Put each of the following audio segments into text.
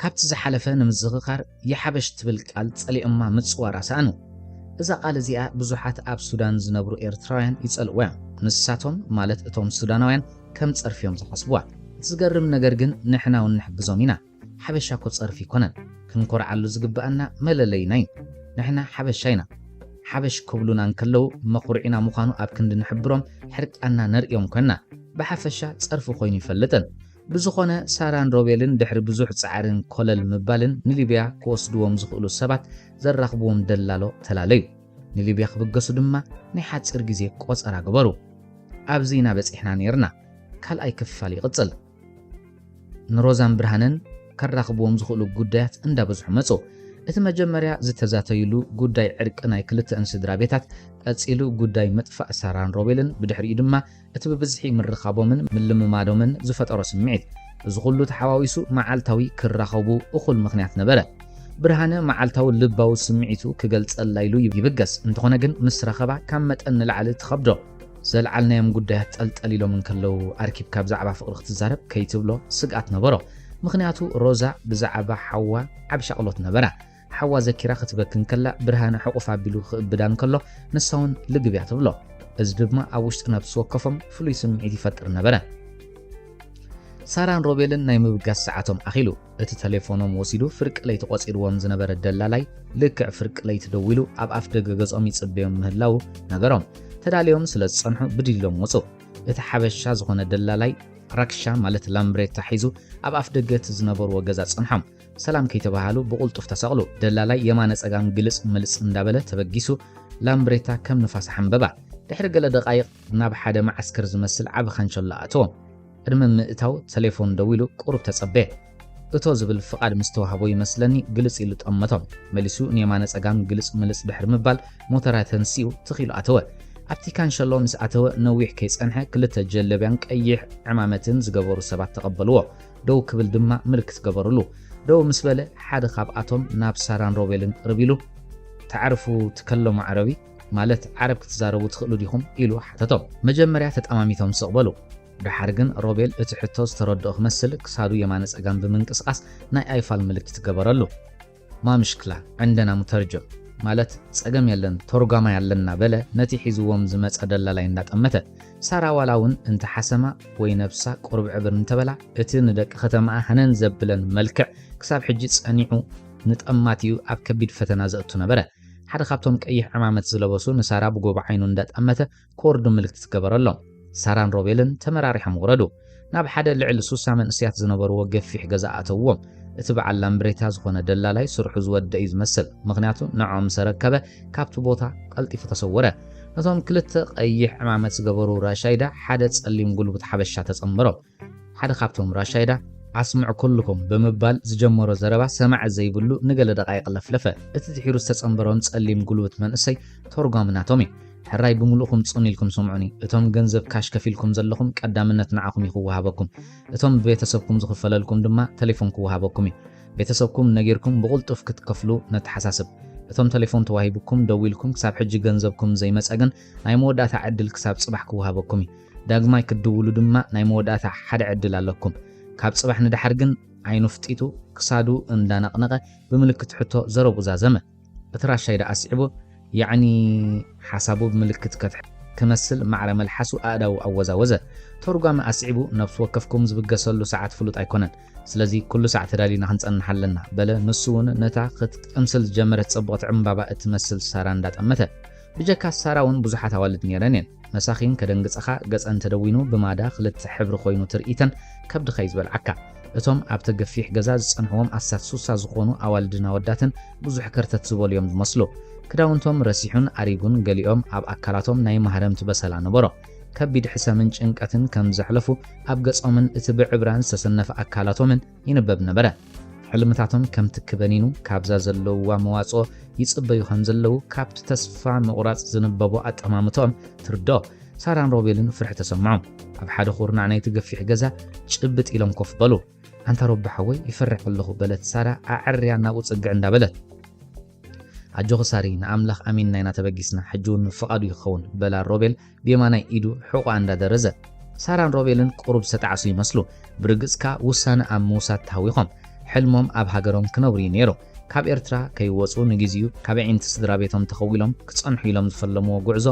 ካብቲ ዝሓለፈ ንምዝኽኻር የሓበሽ ትብል ቃል ጸሊኦማ ምጽዋራ ሰኣኑ። እዛ ቃል እዚኣ ብዙሓት ኣብ ሱዳን ዝነብሩ ኤርትራውያን ይጸልእዋ'ዮም። ንሳቶም ማለት እቶም ሱዳናውያን ከም ጸርፊ'ዮም ዝሓስብዋ። እቲ ዝገርም ነገር ግን ንሕና'ውን ንሕግዞም ኢና። ሓበሻ'ኮ ጸርፊ ኣይኮነን። ክንኮርዓሉ ዝግበኣና መለለይና'ዩ። ንሕና ሓበሻ ኢና። ሓበሽ ክብሉና እንከለዉ መኹርዒና ምዃኑ ኣብ ክንዲ ንሕብሮም ሕርቃንና ነርእዮም ኮንና። ብሓፈሻ ጸርፊ ኮይኑ ኣይፈልጥን። ብዝኾነ ሳራን ሮቤልን ድሕሪ ብዙሕ ጻዕርን ኮለል ምባልን ንሊብያ ክወስድዎም ዝኽእሉ ሰባት ዘራኽብዎም ደላሎ ተላለዩ። ንሊብያ ክብገሱ ድማ ናይ ሓጺር ግዜ ቆጸራ ገበሩ። ኣብዚ ኢና በጺሕና ኔርና። ካልኣይ ክፋል ይቕጽል። ንሮዛን ብርሃነን ከራኽብዎም ዝኽእሉ ጉዳያት እንዳበዝሑ መጹ። እቲ መጀመርያ ዝተዛተዩሉ ጉዳይ ዕርቂ ናይ ክልተኣን ስድራቤታት፣ ቀጺሉ ጉዳይ ምጥፋእ ሳራን ሮቤልን፣ ብድሕሪኡ ድማ እቲ ብብዝሒ ምርኻቦምን ምልምማዶምን ዝፈጠሮ ስምዒት፣ እዚ ኹሉ ተሓዋዊሱ መዓልታዊ ክራኸቡ እኹል ምኽንያት ነበረ። ብርሃነ መዓልታዊ ልባዊ ስምዒቱ ክገልጸላ ኢሉ ይብገስ፣ እንተኾነ ግን ምስ ረኸባ ካብ መጠን ንላዕሊ ትኸብዶ። ዘልዓልናዮም ጉዳያት ጠልጠል ኢሎም እንከለዉ ኣርኪብካ ብዛዕባ ፍቕሪ ክትዛረብ ከይትብሎ ስግኣት ነበሮ፣ ምኽንያቱ ሮዛ ብዛዕባ ሓዋ ዓቢ ሻቕሎት ነበራ። ሓዋ ዘኪራ ክትበኪ እንከላ ብርሃነ ሕቑፍ ኣቢሉ ክእብዳ እንከሎ ንሳውን ልግብያ ትብሎ። እዚ ድማ ኣብ ውሽጢ ነብሲ ወከፎም ፍሉይ ስምዒት ይፈጥር ነበረ። ሳራን ሮቤልን ናይ ምብጋስ ሰዓቶም ኣኺሉ እቲ ተሌፎኖም ወሲዱ ፍርቂ ለይቲ ቆጺርዎም ዝነበረ ደላላይ ልክዕ ፍርቂ ለይቲ ደዊሉ ኣብ ኣፍ ደገ ገጾም ይጽበዮም ምህላው ነገሮም። ተዳልዮም ስለ ዝጸንሑ ብድድ ኢሎም ወጹ። እቲ ሓበሻ ዝኾነ ደላላይ ራክሻ ማለት ላምብሬታ ሒዙ ኣብ ኣፍ ደገ እቲ ዝነበርዎ ገዛ ጸንሖም። ሰላም ከይተባሃሉ ብቑልጡፍ ተሰቕሉ። ደላላይ የማነ ጸጋም ግልጽ ምልጽ እንዳበለ ተበጊሱ፣ ላምብሬታ ከም ንፋስ ኣሓንበባ። ድሕሪ ገለ ደቓይቕ ናብ ሓደ መዓስከር ዝመስል ዓቢ ካንቸሎ ኣእተዎም። ቅድሚ ምእታው ተሌፎን ደዊሉ ቁሩብ ተጸበየ። እቶ ዝብል ፍቓድ ምስ ተዋህቦ ይመስለኒ ግልጽ ኢሉ ጠመቶም። መሊሱ ንየማነ ጸጋም ግልጽ ምልጽ ድሕሪ ምባል ሞተራ ተንሲኡ ትኽ ኢሉ ኣተወ። ኣብቲ ካንሸሎ ምስ ኣተወ ነዊሕ ከይጸንሐ ክልተ ጀለብያን ቀይሕ ዕማመትን ዝገበሩ ሰባት ተቐበልዎ። ደው ክብል ድማ ምልክት ገበሩሉ። ደው ምስ በለ፣ ሓደ ካብኣቶም ናብ ሳራን ሮቤልን ቅርብ ኢሉ፣ ተዕርፉ ትከለሙ ዓረቢ? ማለት ዓረብ ክትዛረቡ ትኽእሉ ዲኹም? ኢሉ ሓተቶም። መጀመርያ ተጠማሚቶም ስቕ በሉ። ደሓር ግን ሮቤል እቲ ሕቶ ዝተረድኦ ክመስል ክሳዱ የማነ-ጸጋም ብምንቅስቓስ ናይ ኣይፋል ምልክት ገበረሉ። ማምሽክላ ዕንደና ሙተርጆም ማለት ጸገም የለን ቶርጓማይ ኣለና በለ ነቲ ሒዝዎም ዝመጸ ደላላይ እንዳጠመተ። ሳራ ዋላ ውን እንተ ሓሰማ ወይ ነብሳ ቁርብዕብር እንተበላ እቲ ንደቂ ከተማኣ ሃነን ዘብለን መልክዕ ክሳብ ሕጂ ጸኒዑ ንጠማቲኡ ኣብ ከቢድ ፈተና ዘእቱ ነበረ። ሓደ ካብቶም ቀይሕ ዕማመት ዝለበሱ ንሳራ ብጎቦ ዓይኑ እንዳጠመተ ኮርዱ ምልክት ዝገበረሎም ሳራን ሮቤልን ተመራሪሖም ወረዱ። ናብ ሓደ ልዕሊ ሱሳ መንእስያት ዝነበርዎ ገፊሕ ገዛ ኣእተውዎም። እቲ በዓል ላምብሬታ ዝኾነ ደላላይ ስርሑ ዝወደእ እዩ ዝመስል፣ ምኽንያቱ ንዖም ምስ ኣረከበ ካብቲ ቦታ ቀልጢፉ ተሰወረ። ነቶም ክልተ ቀይሕ ዕማመት ዝገበሩ ራሻይዳ ሓደ ጸሊም ጉልቡት ሓበሻ ተጸንበሮም። ሓደ ካብቶም ራሻይዳ ኣስምዑ ኩሉኹም ብምባል ዝጀመሮ ዘረባ ሰማዒ ዘይብሉ ንገለ ደቓይቕ ለፍለፈ። እቲ ድሒሩ ዝተጸንበሮም ጸሊም ጉልብት መንእሰይ ቶርጓሚ ናቶም እዩ። ሕራይ ብምሉእኩም ጽን ኢልኩም ስምዑኒ። እቶም ገንዘብ ካሽ ከፊልኩም ዘለኹም ቀዳምነት ንዓኹም እዩ ክወሃበኩም። እቶም ብቤተሰብኩም ዝኽፈለልኩም ድማ ተሌፎን ክወሃበኩም እዩ። ቤተሰብኩም ነጊርኩም ብቑልጡፍ ክትከፍሉ ነተሓሳስብ። እቶም ተሌፎን ተዋሂቡኩም ደዊልኩም ክሳብ ሕጂ ገንዘብኩም ዘይመጸ ግን ናይ መወዳእታ ዕድል ክሳብ ጽባሕ ክወሃበኩም እዩ። ዳግማይ ክትድውሉ ድማ ናይ መወዳእታ ሓደ ዕድል ኣለኩም። ካብ ጽባሕ ንደሓር ግን ዓይኑ ፍጢጡ ክሳዱ እንዳነቕነቐ ብምልክት ሕቶ ዘረብኡ ዛዘመ። እቲ ራሻይ ደኣ ኣስዒቡ ያዕኒ ሓሳቡ ብምልክት ከትሕት ክመስል ማዕረ መልሓሱ ኣእዳዉ ኣወዛወዘ። ተርጓሚ ኣስዒቡ ነብሲ ወከፍኩም ዝብገሰሉ ሰዓት ፍሉጥ ኣይኮነን። ስለዚ ኩሉ ሳዕ ተዳሊና ክንጸንሕ ኣለና በለ ንሱ'ውን ነታ ክትቅምስል ዝጀመረት ጽብቕቲ ዕምባባ እትመስል ሳራ እንዳጠመተ። ብጀካ ሳራ ውን ብዙሓት ኣዋልድ ኔረን የን መሳኪን ከደንግጸኻ ገጸን ተደዊኑ ብማዳ ክልተ ሕብሪ ኮይኑ ትርኢተን ከብድኻ ዩ ዝበልዓካ እቶም ኣብተ ገፊሕ ገዛ ዝጸንሕዎም ኣስታት ሱሳ ዝኾኑ ኣዋልድን ኣወዳትን ብዙሕ ከርተት ዝበሉ ዮም ዝመስሉ ክዳውንቶም ረሲሑን ኣሪጉን ገሊኦም ኣብ ኣካላቶም ናይ ማህረምቲ በሰላ ነበሮ ከቢድ ሕሰምን ጭንቀትን ከም ዘሕለፉ ኣብ ገጾምን እቲ ብዕብራን ዝተሰነፈ ኣካላቶምን ይንበብ ነበረ። ሕልምታቶም ከምቲ ክበኒኑ ካብዛ ዘለውዋ መዋጽኦ ይጽበዩ ከምዘለዉ ካብቲ ተስፋ ምቑራጽ ዝንበቦ ኣጠማምትኦም ትርድኦ። ሳራን ሮቤልን ፍርሒ ተሰምዖም። ኣብ ሓደ ኩርናዕ ናይቲ ገፊሕ ገዛ ጭብጥ ኢሎም ኮፍ በሉ። ኣንታ ሮቢ ሓወይ ይፈርሕ ኣለኹ በለት ሳራ ኣዐርያ ናብኡ ጽግዕ እንዳበለት። ኣጆኺ ሳሪ ንኣምላኽ ኣሚንና ኢና ተበጊስና ሕጂ ውን ምፍቓዱ እዩ ክኸውን በላ ሮቤል ብየማናይ ኢዱ ሕቖኣ እንዳ ደረዘ። ሳራን ሮቤልን ቁሩብ ዝተጣዕሱ ይመስሉ ብርግጽ ከኣ ውሳነ ኣብ ምውሳድ ተሃዊኾም። ሕልሞም ኣብ ሃገሮም ክነብሩ እዩ ኔሩ። ካብ ኤርትራ ከይወጹ ንግዜኡ ካብ ኣዒንቲ ስድራቤቶም ተኸዊሎም ክጸንሑ ኢሎም ዝፈለምዎ ጉዕዞ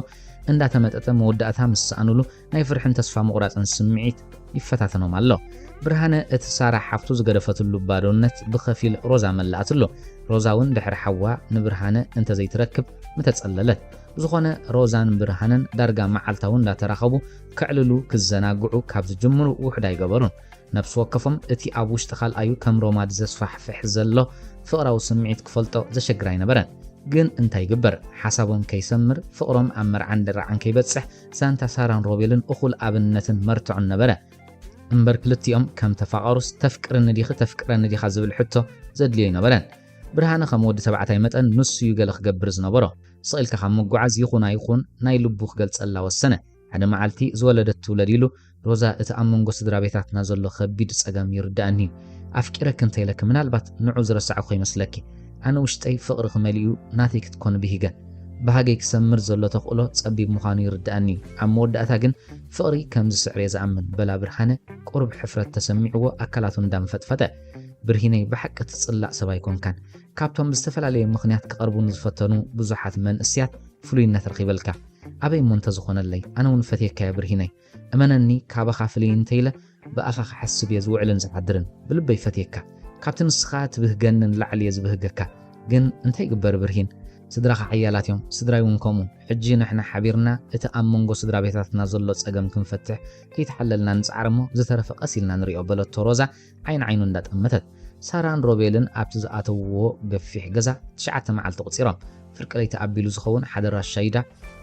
እንዳ ተመጠጠ መወዳእታ ምስ ሰኣኑሉ ናይ ፍርሕን ተስፋ ምቑራጽን ስምዒት ይፈታተኖም ኣሎ። ብርሃነ እቲ ሳራ ሓፍቱ ዝገደፈትሉ ባዶነት ብኸፊል ሮዛ መላኣትሉ። ሮዛ ውን ድሕሪ ሓዋ ንብርሃነ እንተ ዘይትረክብ ምተጸለለት። ብዝኾነ ሮዛን ብርሃነን ዳርጋ መዓልታዊ እንዳተራኸቡ ከዕልሉ ክዘናግዑ ካብ ዝጅምሩ ውሑድ ኣይገበሩን። ነብሲ ወከፎም እቲ ኣብ ውሽጢ ካልኣዩ ከም ሮማድ ዘስፋሕፍሕ ዘሎ ፍቕራዊ ስምዒት ክፈልጦ ዘሸግር ኣይነበረን። ግን እንታይ ይግበር ሓሳቦም ከይሰምር ፍቕሮም ኣብ መርዓን ድራዕን ከይበጽሕ ዛንታ ሳራን ሮቤልን እኹል ኣብነትን መርትዖን ነበረ። እምበር ክልቲኦም ከም ተፋቐሩስ ተፍቅርኒ ዲኺ ተፍቅረኒ ዲኻ ዝብል ሕቶ ዘድልዮ ኣይነበረን። ብርሃነ ከም ወዲ ተባዕታይ መጠን ንሱ'ዩ ገለ ክገብር ዝነበሮ። ስቕ ኢልካ ካብ ምጉዓዝ ይኹን ኣይኹን ናይ ልቡ ክገልጸላ ወሰነ። ሓደ መዓልቲ ዝወለደት ትውለድ ኢሉ ሮዛ እቲ ኣብ መንጎ ስድራቤታትና ዘሎ ከቢድ ጸገም ይርድኣኒ እዩ። ኣፍቂረኪ እንተ ኢለኪ ምናልባት ንዑ ዝረሳዕኩ ከይመስለኪ። ኣነ ውሽጠይ ፍቕርኺ መሊኡ ናተይ ክትኮኒ ብሂገ። ባህገይ ክሰምር ዘሎ ተኽእሎ ጸቢብ ምዃኑ ይርድኣኒ እዩ። ኣብ መወዳእታ ግን ፍቕሪ ከም ዝስዕር እየ ዝኣምን በላ ብርሃነ ቁሩብ ሕፍረት ተሰሚዕዎ ኣካላቱ እንዳንፈጥፈጠ። ብርሂነይ ብሓቂ ትጽላእ ሰብ ኣይኮንካን። ካብቶም ብዝተፈላለየ ምኽንያት ክቐርቡኒ ዝፈተኑ ብዙሓት መንእስያት ፍሉይነት ረኺበልካ። ኣበይ እሞ እንተዝኾነለይ ኣነ ውን ፈትየካ እየ ብርሂነይ እመነኒ ካባኻ ፍልይ እንተይለ ብኣኻ ክሓስብ እየ ዝውዕልን ዝዓድርን ብልበይ ፈትየካ ካብቲ ንስኻ ትብህገኒ ንላዕሊ እየ ዝብህገካ ግን እንታይ ይግበር ብርሂን ስድራኻ ሓያላት እዮም ስድራይ ውን ከምኡ ሕጂ ንሕና ሓቢርና እቲ ኣብ መንጎ ስድራ ቤታትና ዘሎ ጸገም ክንፈትሕ ከይተሓለልና ንጽዓር እሞ ዝተረፈ ቀስ ኢልና ንሪኦ በለቶ ሮዛ ዓይኒ ዓይኑ እንዳጠመተት ሳራን ሮቤልን ኣብቲ ዝኣተውዎ ገፊሕ ገዛ ትሽዓተ መዓልቲ ኣቑጺሮም። ፍርቂ ለይቲ ኣቢሉ ዝኸውን ሓደ ራሻይዳ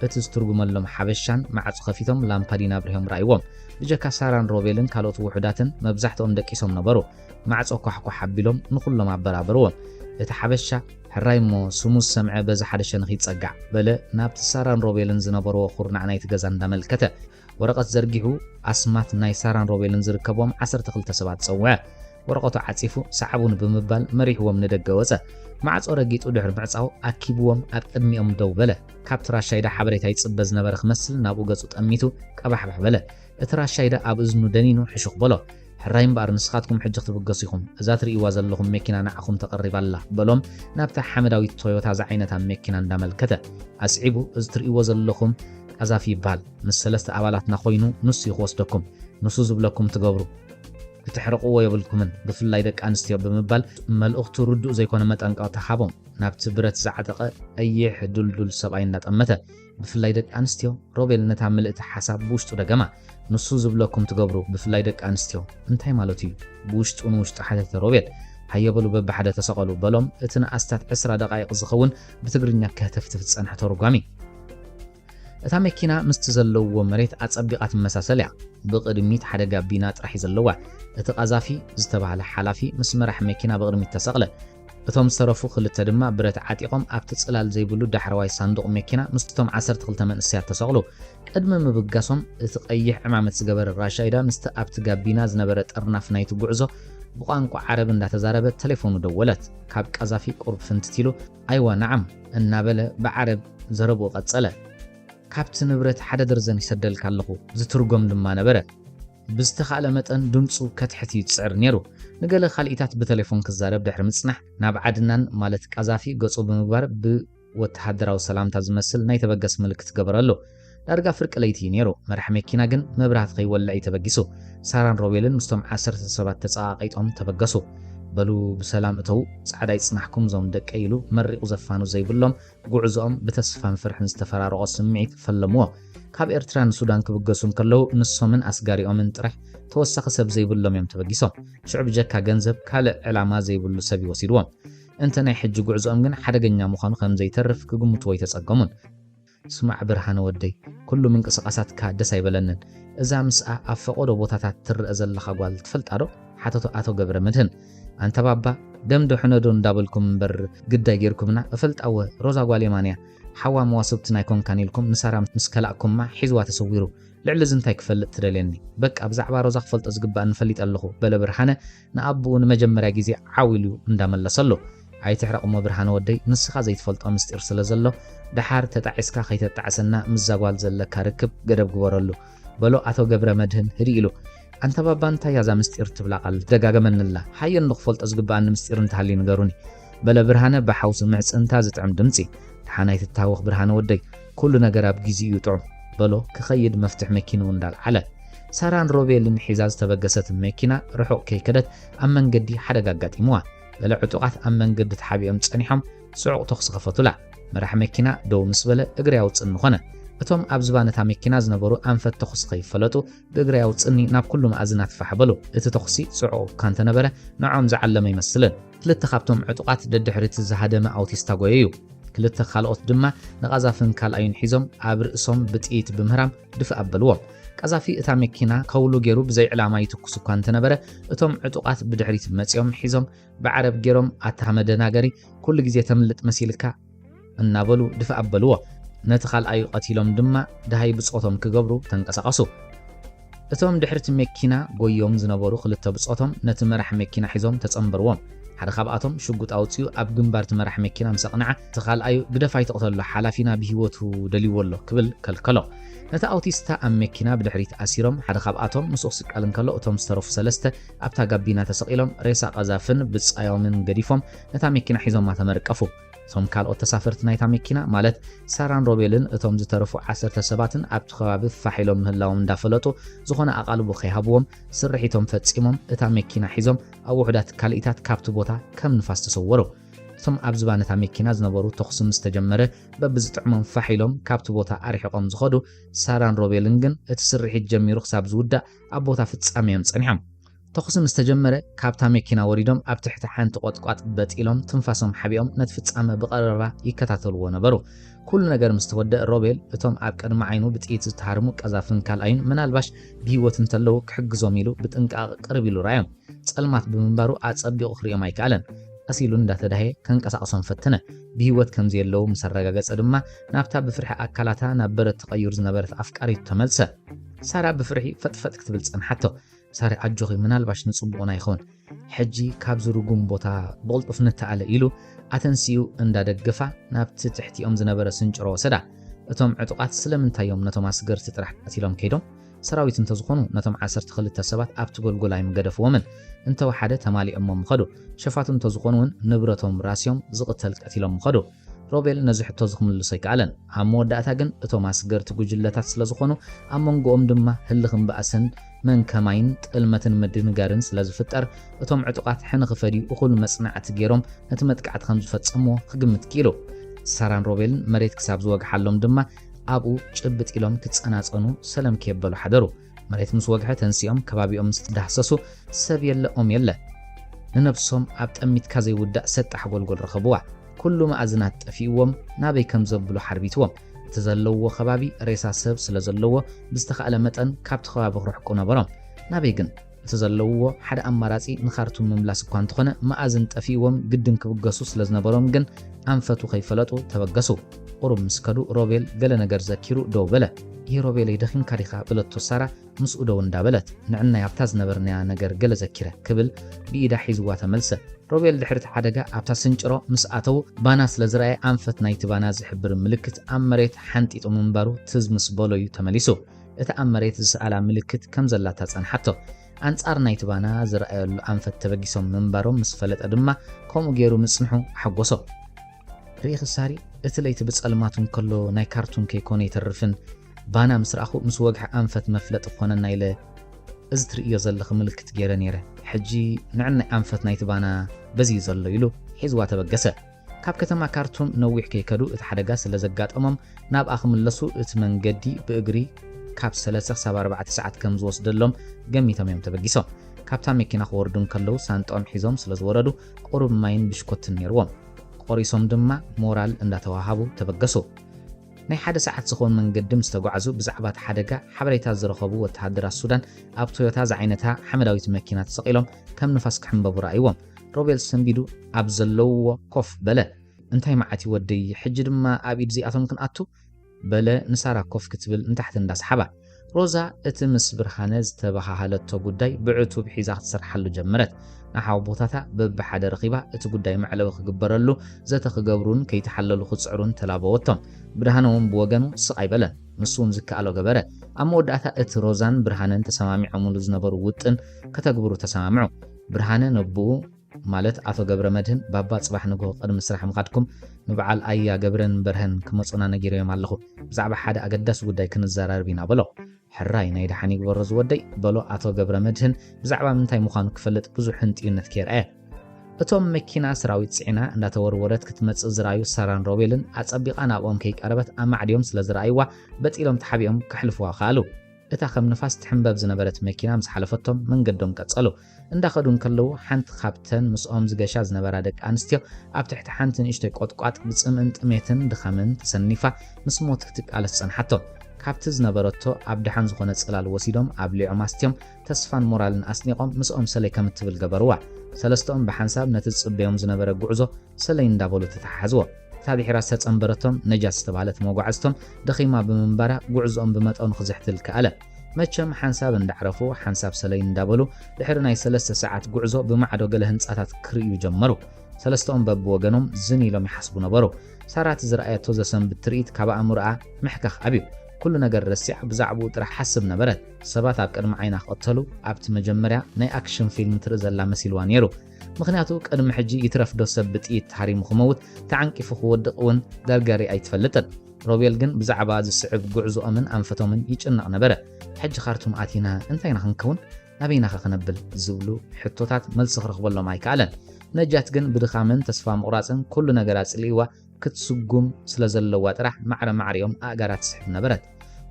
እቲ ዝትርጉመሎም ሓበሻን ማዕጾ ከፊቶም ላምፓዲን ኣብሪሆም ረኣይዎም። ብጀካ ሳራን ሮቤልን ካልኦት ውሑዳትን መብዛሕትኦም ደቂሶም ነበሩ። ማዕጾ ኳሕኳሕ ኣቢሎም ንኹሎም ኣበራበርዎም። እቲ ሓበሻ ሕራይ እሞ ስሙ ዝሰምዐ በዚ ሓደ ሸንኽ ይጸጋዕ፣ በለ ናብቲ ሳራን ሮቤልን ዝነበርዎ ኩርናዕ ናይቲ ገዛ እንዳመልከተ። ወረቐት ዘርጊሑ ኣስማት ናይ ሳራን ሮቤልን ዝርከብዎም ዓሰርተ ክልተ ሰባት ጸውዐ። ወረቐቱ ዓጺፉ ሰዓቡኒ ብምባል መሪሕዎም ንደገ ወጸ። ማዕጾ ረጊጡ ድሕሪ ምዕጻው ኣኪብዎም ኣብ ቅድሚኦም ደው በለ። ካብቲ ራሻይዳ ሓበሬታ ይጽበ ዝነበረ ክመስል ናብኡ ገጹ ጠሚቱ ቀባሕባሕ በለ። እቲ ራሻይዳ ኣብ እዝኑ ደኒኑ ሕሹኽ በሎ። ሕራይ እምበኣር ንስኻትኩም ሕጂ ክትብገሱ ኢኹም፣ እዛ ትርእይዋ ዘለኹም መኪና ንዓኹም ተቐሪባ ኣላ፣ በሎም ናብታ ሓመዳዊት ቶዮታ ዝዓይነታ መኪና እንዳመልከተ። ኣስዒቡ እዚ ትርእይዎ ዘለኹም ቀዛፊ ይበሃል፣ ምስ ሰለስተ ኣባላትና ኮይኑ ንሱ እዩ ክወስደኩም፣ ንሱ ዝብለኩም ትገብሩ፣ ክተሕርቕዎ የብልኩምን፣ ብፍላይ ደቂ ኣንስትዮ፣ ብምባል መልእኽቱ ርዱእ ዘይኮነ መጠንቀቕታ ሃቦም፣ ናብቲ ብረት ዝዓጠቐ ቀይሕ ዱልዱል ሰብኣይ እንዳጠመተ። ብፍላይ ደቂ ኣንስትዮ፣ ሮቤል ነታ ምልእቲ ሓሳብ ብውሽጡ ደገማ። ንሱ ዝብለኩም ትገብሩ፣ ብፍላይ ደቂ ኣንስትዮ። እንታይ ማለቱ እዩ? ብውሽጡ ንውሽጡ ሓተተ ሮቤል። ሃየ በሉ በብሓደ ተሰቐሉ፣ በሎም እቲ ንኣስታት ዕስራ ደቓይቕ ዝኸውን ብትግርኛ ከህተፍትፍ ዝጸንሐ ተርጓሚ። እታ መኪና ምስቲ ዘለውዎ መሬት ኣጸቢቓ ትመሳሰል እያ። ብቕድሚት ሓደ ጋቢና ጥራሕ እዩ ዘለዋ። እቲ ቐዛፊ ዝተባህለ ሓላፊ ምስ መራሕ መኪና ብቕድሚት ተሰቕለ። እቶም ዝተረፉ ክልተ ድማ ብረት ዓጢቖም ኣብቲ ጽላል ዘይብሉ ዳሕረዋይ ሳንዱቕ መኪና ምስቶም ዓሰርተ ክልተ መንእሰያት ተሰቕሉ። ቅድሚ ምብጋሶም እቲ ቀይሕ ዕማመት ዝገበረ ራሻይዳ ምስቲ ኣብቲ ጋቢና ዝነበረ ጥርናፍ ናይቲ ጉዕዞ ብቋንቋ ዓረብ እንዳተዛረበ ተሌፎኑ ደወለት። ካብ ቃዛፊ ቁሩብ ፍንትት ኢሉ ኣይዋ ናዓም እናበለ ብዓረብ ዘረብኡ ቀጸለ። ካብቲ ንብረት ሓደ ደርዘን ይሰደልካ ኣለኹ ዝትርጎም ድማ ነበረ። ብዝተኻእለ መጠን ድምጹ ከትሕት እዩ ዝጽዕር ነይሩ። ንገለ ካልኢታት ብተሌፎን ክዛረብ ድሕሪ ምጽናሕ፣ ናብ ዓድናን ማለት ቃዛፊ ገጹ ብምግባር ብወተሃደራዊ ሰላምታ ዝመስል ናይ ተበገስ ምልክት ገበረሉ። ዳርጋ ፍርቂ ለይቲ እዩ ነይሩ፣ መራሒ መኪና ግን መብራህቲ ከይወልዕ እዩ ተበጊሱ። ሳራን ሮቤልን ምስቶም ዓሰርተ ሰባት ተጸቓቒጦም ተበገሱ። በሉ ብሰላም እተዉ፣ ጻዕዳ ይጽናሕኩም እዞም ደቀይ ኢሉ መሪቑ ዘፋኑ ዘይብሎም ጉዕዞኦም ብተስፋን ፍርሕን ዝተፈራረቖ ስምዒት ፈለምዎ። ካብ ኤርትራ ንሱዳን ክብገሱ እንከለዉ፣ ንሶምን ኣስጋሪኦምን ጥራሕ ተወሳኺ ሰብ ዘይብሎም እዮም ተበጊሶም። ሽዑ ብጀካ ገንዘብ ካልእ ዕላማ ዘይብሉ ሰብ እዩ ወሲድዎም። እንተ ናይ ሕጂ ጉዕዞኦም ግን ሓደገኛ ምዃኑ ከም ዘይተርፍ ክግምትዎ ኣይተጸገሙን። ስማዕ ብርሃነ ወደይ፣ ኩሉ ምንቅስቓሳትካ ደስ ኣይበለንን። እዛ ምስኣ ኣብ ፈቖዶ ቦታታት ትረኣ ዘለኻ ጓል ትፈልጣዶ? ሓተቶ ኣቶ ገብረመድህን። ኣንታ ባባ ደም ዶ ሕነ ዶ እንዳበልኩም እምበር ግዳይ ጌርኩምና እፈልጣ እወ ሮዛ ጓል የማን እያ ሓዋ መዋስብትን ኣይኮንካን ኢልኩም ንሳራ ምስ ከላእኩማ ሒዝዋ ተሰዊሩ ልዕሊ እዚ እንታይ ክፈልጥ ትደልየኒ በቃ ብዛዕባ ሮዛ ክፈልጦ ዝግባኣኒ ፈሊጠ ኣለኹ በለ ብርሃነ ንኣቡኡ ንመጀመርያ ግዜ ዓው ኢሉ እንዳመለሰሉ ኣይትሕረቕሞ ብርሃነ ወደይ ንስኻ ዘይትፈልጦ ምስጢር ስለ ዘሎ ደሓር ተጣዒስካ ከይተጣዕሰና ምስዛ ጓል ዘለካ ርክብ ገደብ ግበረሉ በሎ ኣቶ ገብረመድህን ህድእ ኢሉ ኣንታ ባባ እንታይ እያ እዛ ምስጢር ትብላ ቃል ትደጋገመኒ'ላ ሓየኒ ክፈልጦ ዝግበኣኒ ምስጢር እንተሃልዩ ንገሩኒ በለ ብርሃነ ብሓውሲ ምሕጽንታ ዝጥዕም ድምጺ ደሓን ኣይትታወኽ ብርሃነ ወደይ ኩሉ ነገር ኣብ ጊዜኡ'ዩ ጥዑም በሎ ክኸይድ መፍትሕ መኪንኡ እንዳልዓለ ሳራን ሮቤልን ሒዛ ዝተበገሰት መኪና ርሑቕ ከይከደት ኣብ መንገዲ ሓደጋ ኣጋጢምዋ ገለ ዕጡቓት ኣብ መንገዲ ተሓቢኦም ጸኒሖም ጽዑቕ ተኹሲ ከፈቱላ መራሒ መኪና ደው ምስ በለ እግሪ ኣውጽእኒ ኾነ እቶም ኣብ ዝባነታ መኪና ዝነበሩ ኣንፈት ተኹሲ ከይፈለጡ ብእግረይ ኣውጽእኒ ናብ ኩሉ መኣዝናት ፋሕ በሉ። እቲ ተኹሲ ጽዑቕ እኳ እንተ ነበረ፣ ንዖኦም ዝዓለመ ኣይመስልን። ክልተ ካብቶም ዕጡቓት ደድሕሪ'ቲ ዝሃደመ ኣውቲስ ተጎየዩ። ክልተ ካልኦት ድማ ንቓዛፍን ካልኣዩን ሒዞም ኣብ ርእሶም ብጥይት ብምህራም ድፍእ ኣበልዎም። ቃዛፊ እታ መኪና ከውሉ ጌሩ ብዘይ ዕላማ ይትኩስ እኳ እንተ ነበረ፣ እቶም ዕጡቓት ብድሕሪት መጺኦም ሒዞም ብዓረብ ጌሮም ኣታ መደናገሪ ኩሉ ግዜ ተምልጥ መሲልካ፣ እናበሉ ድፍእ ኣበልዎ። ነቲ ካልኣዩ ቀቲሎም ድማ ደሃይ ብጾቶም ክገብሩ ተንቀሳቐሱ። እቶም ድሕሪ'ቲ መኪና ጎዮም ዝነበሩ ክልተ ብጾቶም ነቲ መራሕ መኪና ሒዞም ተጸንበርዎም። ሓደ ካብኣቶም ሽጉጥ ኣውጺኡ ኣብ ግንባር'ቲ መራሕ መኪና ምስ ኣቕንዐ፣ እቲ ካልኣዩ ግደፍ ኣይትቕተሎ ሓላፊና ብህይወቱ ደልይዎ ኣሎ ክብል ከልከሎ። ነቲ ኣውቲስታ ኣብ መኪና ብድሕሪት ኣሲሮም ሓደ ካብኣቶም ምስኡ ክስቀል እንከሎ እቶም ዝተረፉ ሰለስተ ኣብታ ጋቢና ተሰቒሎም ሬሳ ቀዛፍን ብጻዮምን ገዲፎም ነታ መኪና ሒዞማ ተመርቀፉ። እቶም ካልኦት ተሳፈርቲ ናይታ መኪና ማለት ሳራን ሮቤልን እቶም ዝተረፉ ዓሰርተ ሰባትን ኣብቲ ከባቢ ፋሕ ኢሎም ምህላዎም እንዳፈለጡ ዝኾነ ኣቓልቦ ከይሃብዎም ስርሒቶም ፈጺሞም እታ መኪና ሒዞም ኣብ ውሑዳት ካልኢታት ካብቲ ቦታ ከም ንፋስ ተሰወሩ። እቶም ኣብ ዝባን እታ መኪና ዝነበሩ ተኹሲ ምስ ተጀመረ በብዝጥዕሞም ፋሕ ኢሎም ካብቲ ቦታ ኣርሒቖም ዝኸዱ ሳራን ሮቤልን ግን እቲ ስርሒት ጀሚሩ ክሳብ ዝውዳእ ኣብ ቦታ ፍጻሜኦም ጸኒሖም። ተኹሲ ምስ ተጀመረ ካብታ መኪና ወሪዶም ኣብ ትሕቲ ሓንቲ ቖጥቋጥ በጥ ኢሎም ትንፋሶም ሓቢኦም ነቲ ፍጻመ ብቐረባ ይከታተልዎ ነበሩ። ኩሉ ነገር ምስ ተወደእ ሮቤል እቶም ኣብ ቅድሚ ዓይኑ ብጥይት ዝተሃርሙ ቀዛፍን ካልኣዩን ምናልባሽ ብህይወት እንተለዉ ክሕግዞም ኢሉ ብጥንቃቐ ቅርብ ኢሉ ረኣዮም። ጸልማት ብምንባሩ ኣጸቢቑ ክርእዮም ኣይከኣለን። ቀስ ኢሉ እንዳተዳህየ ከንቀሳቕሶም ፈተነ። ብህይወት ከምዘየለዉ ምስ ኣረጋገጸ ድማ ናብታ ብፍርሒ ኣካላታ ናብ በረድ ተቐዩር ዝነበረት ኣፍቃሪቱ ተመልሰ። ሳራ ብፍርሒ ፈጥፈጥ ክትብል ጸንሓቶ። ሳሪ ኣጆኺ ምናልባሽ ንጽቡቕና ይኸውን ሕጂ ካብዚ ርጉም ቦታ ብቕልጡፍ ንተኣለ ኢሉ ኣተንሲኡ እንዳደገፋ ናብቲ ትሕቲኦም ዝነበረ ስንጭሮ ወሰዳ። እቶም ዕጡቓት ስለምንታይ እዮም ነቶም ኣስገርቲ ጥራሕ ቀቲሎም ከይዶም? ሰራዊት እንተዝኾኑ ነቶም ዓሰርተ ክልተ ሰባት ኣብቲ ጎልጎል ኣይምገደፍዎምን። እንተወሓደ ተማሊኦሞም ምኸዱ። ሸፋቱ እንተዝኾኑ እውን ንብረቶም ራስዮም ዝቕተል ቀቲሎም ምኸዱ። ሮቤል ነዚ ሕቶ'ዚ ክምልሶ ኣይከኣለን። ኣብ መወዳእታ ግን እቶም ኣስገርቲ ጉጅለታት ስለ ዝኾኑ፣ ኣብ መንጎኦም ድማ ህልኽን ባእስን መን ከማይን ጥልመትን ምድንጋርን ስለ ዝፍጠር፣ እቶም ዕጡቓት ሕነ ክፈድዩ እኹል መጽናዕቲ ገይሮም ነቲ መጥቃዕቲ ከም ዝፈጸምዎ ክግምት ክኢሉ። ሳራን ሮቤልን መሬት ክሳብ ዝወግሓሎም ድማ ኣብኡ ጭብጥ ኢሎም ክጸናጸኑ ሰለም ኬበሉ ሓደሩ። መሬት ምስ ወግሐ ተንሲኦም ከባቢኦም ምስ ተዳህሰሱ ሰብ የለ ኦም የለ ንነብሶም ኣብ ጠሚትካ ዘይውዳእ ሰጣሕ ጎልጎል ረኸብዋ። ኩሉ መኣዝናት ጠፊእዎም ናበይ ከም ዘብሉ ሓርቢትዎም። እቲ ዘለውዎ ከባቢ ሬሳ ሰብ ስለ ዘለዎ ብዝተኻእለ መጠን ካብቲ ከባቢ ክርሕቁ ነበሮም። ናበይ ግን? እቲ ዘለውዎ ሓደ ኣማራጺ ንካርቱም ምምላስ እኳ እንተኾነ መኣዝን ጠፊእዎም ግድን ክብገሱ ስለ ዝነበሮም ግን ኣንፈቱ ከይፈለጡ ተበገሱ። ቁሩብ ምስ ከዱ ሮቤል ገለ ነገር ዘኪሩ ደው በለ። እሂ ሮቤለይ ደኺምካ ዲኻ? በለቶ ሳራ ምስኡ ደው እንዳበለት። ንዕናይ ኣብታ ዝነበርናያ ነገር ገለ ዘኪረ። ክብል ብኢዳ ሒዝዋ ተመልሰ። ሮቤል ድሕሪ'ቲ ሓደጋ ኣብታ ስንጭሮ ምስ ኣተዉ ባና ስለ ዝረኣየ ኣንፈት ናይቲ ባና ዝሕብር ምልክት ኣብ መሬት ሓንጢጡ ምንባሩ ትዝ ምስ በሎ'ዩ ተመሊሱ። እታ ኣብ መሬት ዝሰኣላ ምልክት ከም ዘላታ ጸንሓቶ። ኣንጻር ናይቲ ባና ዝረኣየሉ ኣንፈት ተበጊሶም ምንባሮም ምስ ፈለጠ ድማ ከምኡ ጌሩ ምጽንሑ ኣሐጎሶ። ርኢኺ ሳሪ፣ እቲ ለይቲ ብጸልማት እንከሎ ናይ ካርቱን ከይኮነ ኣይተርፍን፣ ባና ምስ ረኣኹ ምስ ወግሒ ኣንፈት መፍለጢ ክኾነና ኢለ እዚ ትርእይዮ ዘለኺ ምልክት ገይረ ነይረ። ሕጂ ንዕናይ ኣንፈት ናይቲ ባና በዚ እዩ ዘሎ ኢሉ ሒዝዋ ተበገሰ። ካብ ከተማ ካርቱም ነዊሕ ከይከዱ እቲ ሓደጋ ስለ ዘጋጠሞም ናብኣ ክምለሱ እቲ መንገዲ ብእግሪ ካብ ሰለሰ ክሳብ ኣርባዕተ ሰዓት ከም ዝወስደሎም ገሚቶም እዮም ተበጊሶም። ካብታ መኪና ክወርዱ እንከለዉ ሳንጥኦም ሒዞም ስለ ዝወረዱ ቁሩብ ማይን ብሽኮትን ነይርዎም። ቆሪሶም ድማ ሞራል እንዳተዋሃቡ ተበገሱ። ናይ ሓደ ሰዓት ዝኸውን መንገዲ ምስ ተጓዕዙ ብዛዕባ እቲ ሓደጋ ሓበሬታ ዝረኸቡ ወተሃደራት ሱዳን ኣብ ቶዮታ ዝዓይነታ ሓመዳዊት መኪና ተሰቒሎም ከም ንፋስ ክሕምበቡ ረኣይዎም። ሮቤል ሰንቢዱ ኣብ ዘለውዎ ኮፍ በለ። እንታይ መዓት እዩ ወደይ፣ ሕጂ ድማ ኣብ ኢድ እዚኣቶም ክንኣቱ? በለ ንሳራ ኮፍ ክትብል ንታሕቲ እንዳስሓባ። ሮዛ እቲ ምስ ብርሃነ ዝተበሃሃለቶ ጉዳይ ብዕቱብ ሒዛ ክትሰርሓሉ ጀመረት። ንሓውቦታታ በብሓደ ረኺባ እቲ ጉዳይ መዕለቢ ክግበረሉ ዘተ ክገብሩን ከይተሓለሉ ክጽዕሩን ተላበወቶም። ብርሃነ'ውን ብወገኑ ስቕ ኣይበለን። ንሱ'ውን ዝከኣሎ ገበረ። ኣብ መወዳእታ እቲ ሮዛን ብርሃነን ተሰማሚዖምሉ ዝነበሩ ውጥን ከተግብሩ ተሰማምዑ። ብርሃነ ነቦኡ። ማለት ኣቶ ገብረመድህን ባባ ጽባሕ ንግሆ ቅድሚ ስራሕ ምኻድኩም ንብዓል ኣያ ገብረን በርሀን ክመጹና ነጊረዮም ኣለኹ ብዛዕባ ሓደ ኣገዳሲ ጉዳይ ክንዘራረብ ኢና በሎ። ሕራይ ናይ ደሓን ይግበሮ ዝወደይ በሎ ኣቶ ገብረመድህን ብዛዕባ ምንታይ ምዃኑ ክፈልጥ ብዙሕ ህንጥዩነት ከይርኣየ። እቶም መኪና ሰራዊት ጽዒና እንዳተወርወረት ክትመጽእ ዝረኣዩ ሳራን ሮቤልን ኣጸቢቓ ናብኦም ከይቀረበት ኣማዕድዮም ስለ ዝረኣይዋ በጢሎም ተሓቢኦም ከሕልፍዋ ከኣሉ። እታ ከም ንፋስ ትሕምበብ ዝነበረት መኪና ምስ ሓለፈቶም መንገዶም ቀጸሉ። እንዳኸዱ እንከለዉ ሓንቲ ካብተን ምስኦም ዝገሻ ዝነበራ ደቂ ኣንስትዮ ኣብ ትሕቲ ሓንቲ ንእሽቶይ ቆጥቋጥ ብጽምእን ጥሜትን ድኻምን ተሰኒፋ ምስ ሞት ክትቃለስ ጸንሓቶም። ካብቲ ዝነበረቶ ኣብ ደሓን ዝኾነ ጽላል ወሲዶም ኣብሊዖም ኣስትዮም ተስፋን ሞራልን ኣስኒቖም ምስኦም ሰለይ ከም እትብል ገበርዋ። ሰለስተኦም ብሓንሳብ ነቲ ዝጽበዮም ዝነበረ ጉዕዞ ሰለይ እንዳበሉ ተተሓሓዝዎ። እታ ድሒራ ዝተጸንበረቶም ነጃት ዝተባህለት መጓዕዝቶም ደኺማ ብምንባራ ጉዕዝኦም ብመጠኑ ክዝሕትል ከኣለ። መቸም ሓንሳብ እንዳዕረፉ ሓንሳብ ሰለይ እንዳበሉ ድሕሪ ናይ ሰለስተ ሰዓት ጉዕዞ ብማዕዶ ገለ ህንጻታት ክርእዩ ጀመሩ። ሰለስተኦም በብወገኖም ዝን ኢሎም ይሓስቡ ነበሩ። ሳራ እቲ ዝረኣየቶ ዘሰንብድ ትርኢት ካብ ኣእምሮኣ ምሕካኽ ኣብዩ። ኩሉ ነገር ረሲዓ ብዛዕብኡ ጥራሕ ሓስብ ነበረት። ሰባት ኣብ ቅድሚ ዓይና ክቕተሉ ኣብቲ መጀመርያ ናይ ኣክሽን ፊልም ትርኢ ዘላ መሲልዋ ኔሩ። ምኽንያቱ ቅድሚ ሕጂ ይትረፍዶ ሰብ ብጥይት ተሃሪሙ ክመውት ተዓንቂፉ ክወድቕ እውን ገርገሪ ኣይትፈልጥን። ሮቤል ግን ብዛዕባ ዝስዕብ ጕዕዞኦምን ኣንፈቶምን ይጭነቕ ነበረ፣ ሕጂ ኻርቱም ኣቲና እንታይ ኢና ኽንከውን? ኣበይናኸ ኽነብል? ዝብሉ ሕቶታት መልሲ ኽረኽበሎም ኣይከኣለን። ነጃት ግን ብድኻምን ተስፋ ምቝራጽን ኵሉ ነገር ኣጽሊእዋ ክትስጕም ስለ ዘለዋ ጥራሕ ማዕረ ማዕሪኦም ኣእጋራ ትስሕብ ነበረት።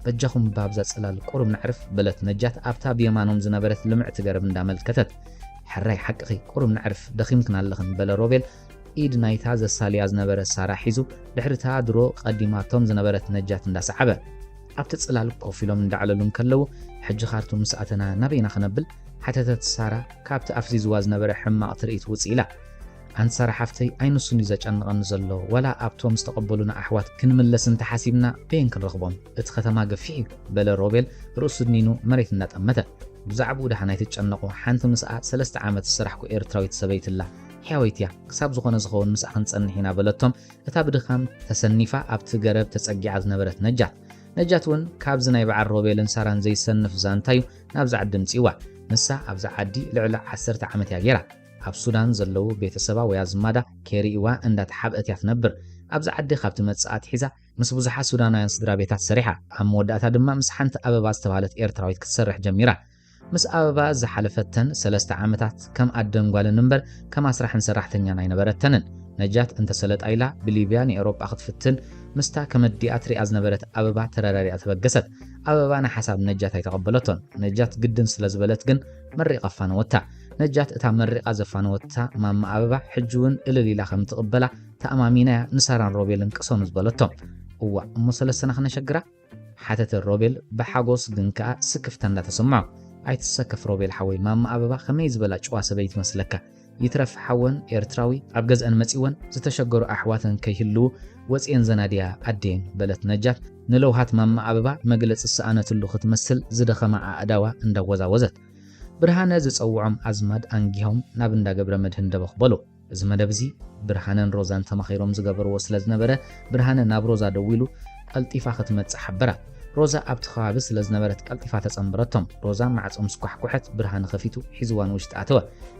በጃኹም ብኣብዛ ጽላል ቍሩብ ነዕርፍ፣ በለት ነጃት ኣብታ ብየማኖም ዝነበረት ልምዕቲ ገረብ እንዳመልከተት። ሕራይ ሓቅኺ፣ ቍሩብ ነዕርፍ፣ ደኺምክን ኣለኽን፣ በለ ሮቤል ኢድ ናይታ ዘሳልያ ዝነበረ ሳራ ሒዙ ድሕሪ'ታ ድሮ ቀዲማቶም ዝነበረት ነጃት እንዳሰዓበ። ኣብቲ ጽላል ኮፍ ኢሎም እንዳዕለሉ እንከለዉ ሕጂ ካርቱም ምስ ኣተና ናበይ ኢና ክነብል? ሓተተት ሳራ ካብቲ ኣፍዚዝዋ ዝነበረ ሕማቕ ትርኢት ውጽእ ኢላ። ኣንቲ ሳራ ሓፍተይ ኣይ ንሱን'ዩ ዘጨንቐኒ ዘሎ ዋላ ኣብቶም ዝተቐበሉና ኣሕዋት ክንምለስ እንተሓሲብና በየን ክንረኽቦም? እቲ ከተማ ገፊሕ'ዩ በለ ሮቤል ርእሱ ድኒኑ መሬት እንዳጠመተ። ብዛዕብኡ ደሓን ኣይትጨነቑ ሓንቲ ምስኣ ሰለስተ ዓመት ዝሰራሕኩ ኤርትራዊት ሰበይቲ'ላ። ሕያወይቲ እያ፣ ክሳብ ዝኾነ ዝኸውን ምስኣ ክንጸንሕ ኢና በለቶም። እታ ብድኻም ተሰኒፋ ኣብቲ ገረብ ተጸጊዓ ዝነበረት ነጃት ነጃት እውን ካብዚ ናይ በዓል ሮቤልን ሳራን ዘይሰንፍ ዛንታ እዩ ናብዚ ዓዲ ኣምጺእዋ። ንሳ ኣብዚ ዓዲ ልዕሊ ዓሰርተ ዓመት እያ ገይራ። ኣብ ሱዳን ዘለዉ ቤተሰባ ወይ ኣዝማዳ ከይርእይዋ እንዳተሓብአት እያ ትነብር። ኣብዚ ዓዲ ካብ ትመጽእ ኣትሒዛ ምስ ብዙሓት ሱዳናውያን ስድራቤታት ሰሪሓ። ኣብ መወዳእታ ድማ ምስ ሓንቲ ኣበባ ዝተባህለት ኤርትራዊት ክትሰርሕ ጀሚራ። ምስ ኣበባ ዝሓለፈተን ሰለስተ ዓመታት ከም ኣደን ጓልን እምበር ከም ኣስራሕን ሰራሕተኛን ኣይነበረተንን። ነጃት እንተ ሰለጣ ኢላ ብሊብያ ንኤሮጳ ክትፍትን ምስታ ከመዲኣ ትሪኣ ዝነበረት ኣበባ ተረዳዲኣ ተበገሰት። ኣበባ ንሓሳብ ነጃት ኣይተቐበለቶን። ነጃት ግድን ስለ ዝበለት ግን መሪቓ ኣፋነወታ። ነጃት እታ መሪቓ ዘፋነወታ ማማ ኣበባ ሕጂ'ውን እልል ኢላ ከም እትቕበላ ተኣማሚና'ያ ንሳራን ሮቤልን ቅሰኑ ዝበለቶም። እዋእ እሞ ሰለስተና ክነሸግራ? ሓተተ ሮቤል ብሓጎስ ግን ከኣ ስክፍታ እንዳ ተሰምዖ። ኣይትሰከፍ ሮቤል ሓወይ ማማ ኣበባ ከመይ ዝበላ ጭዋ ሰበይቲ መስለካ። ይትረፍ ሓወን ኤርትራዊ ኣብ ገዝኣን መጺወን ዝተሸገሩ ኣሕዋተን ከይህልዉ ወጺኤን ዘናድያ ኣዴን በለት ነጃት ንለውሃት ማማ ኣበባ መግለጺ ዝሰኣነትሉ ክትመስል ዝደኸማ ኣእዳዋ እንዳወዛወዘት። ብርሃነ ዝጸውዖም ኣዝማድ ኣንጊሆም ናብ እንዳ ገብረመድህን ደበኽ በሉ። እዚ መደብ እዚ ብርሃነን ሮዛን ተማኺሮም ዝገበርዎ ስለ ዝነበረ ብርሃነ ናብ ሮዛ ደዊሉ ቐልጢፋ ክትመጽእ ሓበራ። ሮዛ ኣብቲ ከባቢ ስለ ዝነበረት ቀልጢፋ ተጸንበረቶም። ሮዛ ማዕጾ ምስ ኳሕኩሐት ብርሃነ ከፊቱ ሒዝዋ ንውሽጢ ኣተወ።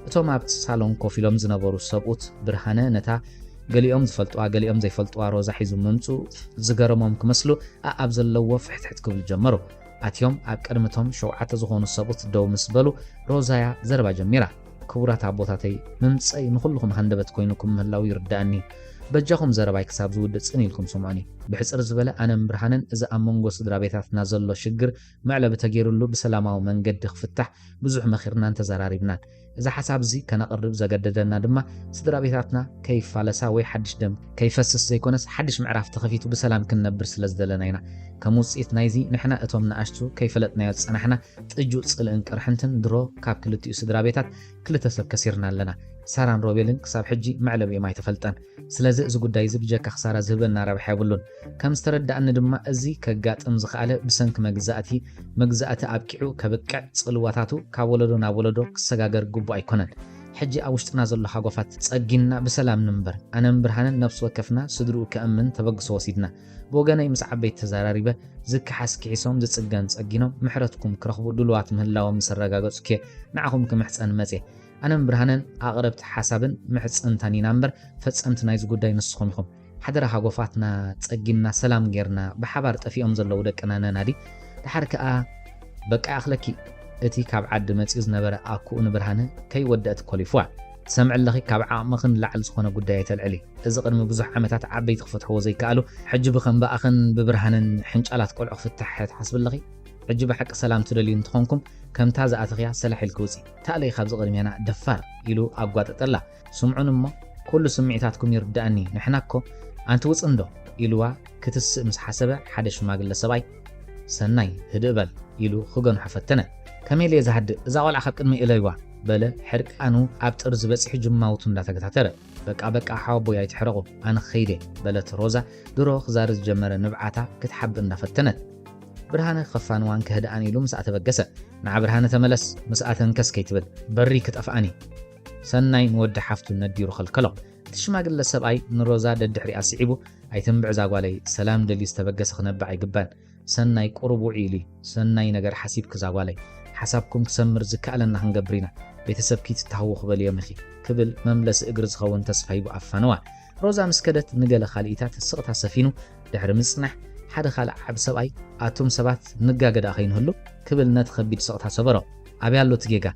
እቶም ኣብቲ ሳሎን ኮፍ ኢሎም ዝነበሩ ሰብኡት ብርሃነ ነታ ገሊኦም ዝፈልጡዋ ገሊኦም ዘይፈልጡዋ ሮዛ ሒዙ ምምጽኡ ዝገረሞም ክመስሉ ኣኣብ ዘለዎ ፍሕትሕት ክብሉ ጀመሩ። ኣትዮም ኣብ ቅድሚ እቶም ሸውዓተ ዝኾኑ ሰብኡት ደው ምስ በሉ ሮዛ'ያ ዘረባ ጀሚራ። ክቡራት ኣቦታተይ ምምጸይ ንኹልኹም ሃንደበት ኮይኑኩም ምህላው ይርድኣኒ በጃኹም ዘረባይ ክሳብ ዝውድእ ጽን ኢልኩም ስምዑኒ ብሕጽር ዝበለ ኣነን ብርሃነን እዚ ኣብ መንጎ ስድራቤታትና ዘሎ ሽግር መዕለቢ ተጌርሉ ብሰላማዊ መንገዲ ክፍታሕ ብዙሕ መኺርናን ተዘራሪብናን እዚ ሓሳብ እዚ ከነቕርብ ዘገደደና ድማ ስድራቤታትና ከይፋለሳ ወይ ሓድሽ ደም ከይፈስስ ዘይኮነስ ሓድሽ ምዕራፍ ተኸፊቱ ብሰላም ክንነብር ስለ ዝደለና ኢና ከም ውጽኢት ናይዚ ንሕና እቶም ንኣሽቱ ከይፈለጥናዮ ዝጸናሕና ጥጁእ ጽልእን ቅርሕንትን ድሮ ካብ ክልቲኡ ስድራ ቤታት ክልተ ሰብ ከሲርና ኣለና። ሳራን ሮቤልን ክሳብ ሕጂ መዕለቢኦም ኣይተፈልጠን። ስለዚ እዚ ጉዳይ እዚ ብጀካ ክሳራ ዝህበና ረብሓ የብሉን። ከም ዝተረደኣኒ ድማ እዚ ከጋጥም ዝኸኣለ ብሰንኪ መግዛእቲ፣ መግዛእቲ ኣብቂዑ ከብቅዕ ጽልዋታቱ ካብ ወለዶ ናብ ወለዶ ክሰጋገር ግቡእ ኣይኮነን። ሕጂ ኣብ ውሽጥና ዘሎ ሃጓፋት ጸጊንና ብሰላም ንንበር። ኣነን ብርሃነን ነብሲ ወከፍና ስድርኡ ከእምን ተበግሶ ወሲድና። ብወገነይ ምስ ዓበይቲ ተዛራሪበ ዝከሓስ ኪሒሶም ዝጽገን ጸጊኖም ምሕረትኩም ክረኽቡ ድሉዋት ምህላዎም ምስ ኣረጋገጽኩ'የ ንዓኹም ክምሕጸን መጽየ። ኣነን ብርሃነን ኣቕረብቲ ሓሳብን ምሕጽንታን ኢና እምበር ፈጸምቲ ናይዚ ጉዳይ ንስኹም ኢኹም። ሓደራ ሃጎፋትና ጸጊንና ሰላም ጌርና ብሓባር ጠፊኦም ዘለዉ ደቅና ነናዲ። ደሓር ከኣ በቃ ይኣኽለኪ እቲ ካብ ዓዲ መጺኡ ዝነበረ ኣኩኡ ንብርሃነ ከይወደእት ኮሊፉዋ። ትሰምዒ ኣለኺ ካብ ዓቕምኺ ንላዕሊ ዝኾነ ጉዳይ ኣይተልዕሊ። እዚ ቅድሚ ብዙሕ ዓመታት ዓበይቲ ክፈትሕዎ ዘይከኣሉ ሕጂ ብከም ብኣኽን ብብርሃንን ሕንጫላት ቆልዑ ክፍታሕ ትሓስቢ ኣለኺ? ሕጂ ብሓቂ ሰላም ትደልዩ እንተኾንኩም ከምታ ዝኣተኽያ ሰላሕ ኢልኪ ውጺ። ተኣለዪ ካብዚ ቅድሜና ደፋር ኢሉ ኣጓጠጠላ። ስምዑኒ እሞ ኩሉ ስምዒታትኩም ይርድኣኒ ንሕና እኮ ኣንቲ ውጽ እንዶ ኢሉዋ ክትስእ ምስ ሓሰበ ሓደ ሽማግለ ሰብኣይ ሰናይ ህድእ በል ኢሉ ክገንሖ ፈተነ። ከመይ ኢለየ ዝሃድእ እዛ ቆልዓ ካብ ቅድመይ እለዩዋ። በለ ሕርቃኑ ኣብ ጥርዚ በጺሑ ጅማውቱ እንዳተገታተረ። በቃ በቃ ሓወቦይ ኣይትሕረቑ ኣነ ክኸይድ እየ በለት ሮዛ ድሮ ክዛርብ ዝጀመረ ንብዓታ ክትሓብእ እንዳፈተነት። ብርሃነ ክኸፋንዋን ከህድኣን ኢሉ ምስኣ ተበገሰ። ንዓ ብርሃነ ተመለስ ምስኣ ተንከስ ከይትብል በሪ ክጠፍኣን እዩ ሰናይ ንወዲ ሓፍቱ ነዲሩ ከልከሎ። እቲ ሽማግለ ሰብኣይ ንሮዛ ደድሕሪኣ ስዒቡ ኣይትንብዕ እዛ ጓለይ ሰላም ደልዩ ዝተበገሰ ክነብዕ ኣይግባን ሰናይ ቁሩብ ውዕይ ኢሊ ሰናይ ነገር ሓሲብኪ ዛጓለይ ሓሳብኩም ክሰምር ዝካኣለና ክንገብር ኢና ቤተሰብኪ ትታሃወኹ በልዮም ኢኺ ክብል መምለሲ እግሪ ዝኸውን ተስፋ ሂቡ ኣፋነዋ ሮዛ ምስ ከደት ንገለ ካልኢታት ስቕታ ሰፊኑ ድሕሪ ምጽናሕ ሓደ ካልእ ዓቢ ሰብኣይ ኣቱም ሰባት ንጋገ ድኣ ከይንህሉ ክብል ነቲ ከቢድ ስቕታ ሰበሮ ኣበይ ኣሎ እቲ ጌጋ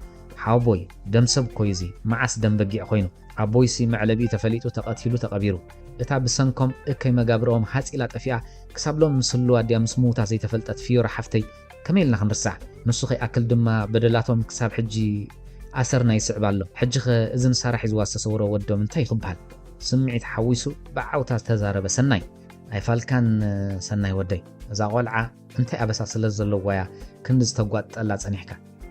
ሓወቦይ ደም ሰብ እኮዩ እዚ መዓስ ደም በጊዕ ኮይኑ ኣቦይሲ መዕለቢኡ ተፈሊጡ ተቀቲሉ ተቀቢሩ እታ ብሰንኮም እከይ መጋብርኦም ሃጽ ኢላ ጠፊኣ ክሳብ ሎሚ ምስ ህልዋ ድያ ምስ ምውታ ዘይተፈልጠት ፍዮራ ሓፍተይ ከመይ ኢልና ክንርሳ ንሱ ከይኣክል ድማ በደላቶም ክሳብ ሕጂ ኣሰርና ይስዕብ ኣሎ ሕጂኸ እዚ ንሳራ ሒዝዋ ዝተሰውሮ ወዶም እንታይ እዩ ክብሃል ስምዒት ሓዊሱ ብዓውታ ዝተዛረበ ሰናይ ኣይፋልካን ሰናይ ወደይ እዛ ቆልዓ እንታይ ኣበሳ ስለ ዘለዋ'ያ ክንዲ ዝተጓጥጠላ ጸኒሕካ?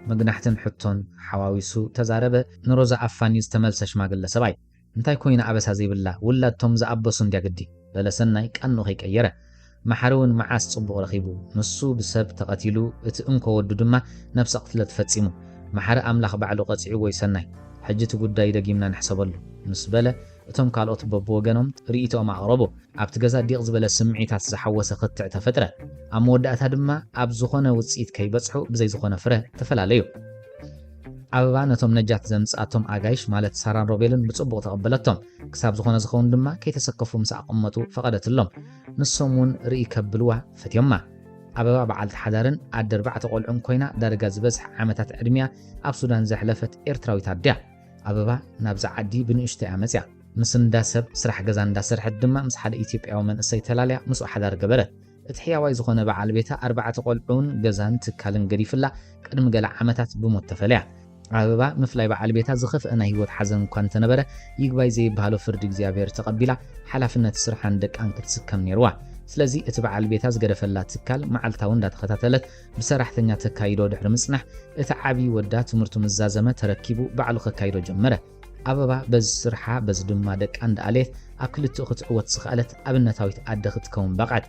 መግናሕትን ሕቶን ሓዋዊሱ ተዛረበ ንሮዛ ኣፋንዩ ዝተመልሰ ሽማግለ ሰብኣይ። እንታይ ኮይና ኣበሳ ዘይብላ ውላድ ቶም ዝኣበሱ እንድያ ግዲ። በለ ሰናይ ቃንኡ ከይቀየረ። መሓሪ'ውን መዓስ ጽቡቕ ረኺቡ? ንሱ ብሰብ ተቐቲሉ እቲ እንኮ ወዱ ድማ ነብሰ ቕትለት ፈጺሙ። መሓሪ ኣምላኽ ባዕሉ ቀጺዕዎ'ዩ ሰናይ። ሕጂ እቲ ጉዳይ ደጊምና ንሕሰበሉ። ምስ በለ። እቶም ካልኦት በብወገኖም ርእይቶኦም ኣቕረቡ። ኣብቲ ገዛ ዲቕ ዝበለ ስምዒታት ዝሓወሰ ክትዕ ተፈጥረ። ኣብ መወዳእታ ድማ ኣብ ዝኾነ ውጽኢት ከይበጽሑ ብዘይ ዝኾነ ፍረ ተፈላለዩ። ኣበባ ነቶም ነጃት ዘምጽኣቶም ኣጋይሽ ማለት ሳራን ሮቤልን ብጽቡቕ ተቐበለቶም። ክሳብ ዝኾነ ዝኸውን ድማ ከይተሰከፉ ምሳኣ ክቕመጡ ፈቐደትሎም። ንሶም'ውን ርእይ ከብልዋ ፈትዮማ። ኣበባ በዓልቲ ሓዳርን ኣደ ኣርባዕተ ቆልዑን ኮይና ዳርጋ ዝበዝሕ ዓመታት ዕድሚኣ ኣብ ሱዳን ዘሕለፈት ኤርትራዊት ኣደ እያ። ኣበባ ናብዚ ዓዲ ብንእሽቶ እያ መጺኣ። ምስ እንዳ ሰብ ስራሕ ገዛ እንዳ ሰርሐት ድማ ምስ ሓደ ኢትዮጵያዊ መንእሰይ ተላልያ ምስኡ ሓዳር ገበረት። እቲ ሕያዋይ ዝኾነ በዓል ቤታ ኣርባዕተ ቆልዑን ገዛን ትካልን ገዲፍላ ቅድሚ ገለ ዓመታት ብሞት ተፈለያ። ኣበባ ምፍላይ በዓል ቤታ ዝኸፍአ ናይ ህይወት ሓዘን እኳ እንተነበረ ይግባይ ዘይበሃሎ ፍርዲ እግዚኣብሔር ተቐቢላ ሓላፍነት ስርሓን ደቃን ክትስከም ነይርዋ። ስለዚ እቲ በዓል ቤታ ዝገደፈላ ትካል መዓልታዊ እንዳተኸታተለት ብሰራሕተኛ ተካይዶ ድሕሪ ምጽናሕ፣ እቲ ዓቢ ወዳ ትምህርቱ ምስ ዛዘመ ተረኪቡ ባዕሉ ከካይዶ ጀመረ። ኣበባ በዚ ስርሓ በዚ ድማ ደቃ እንዳኣለየት ኣብ ክልቲኡ ክትዕወት ዝኸኣለት ኣብነታዊት ኣደ ክትከውን በቕዐት።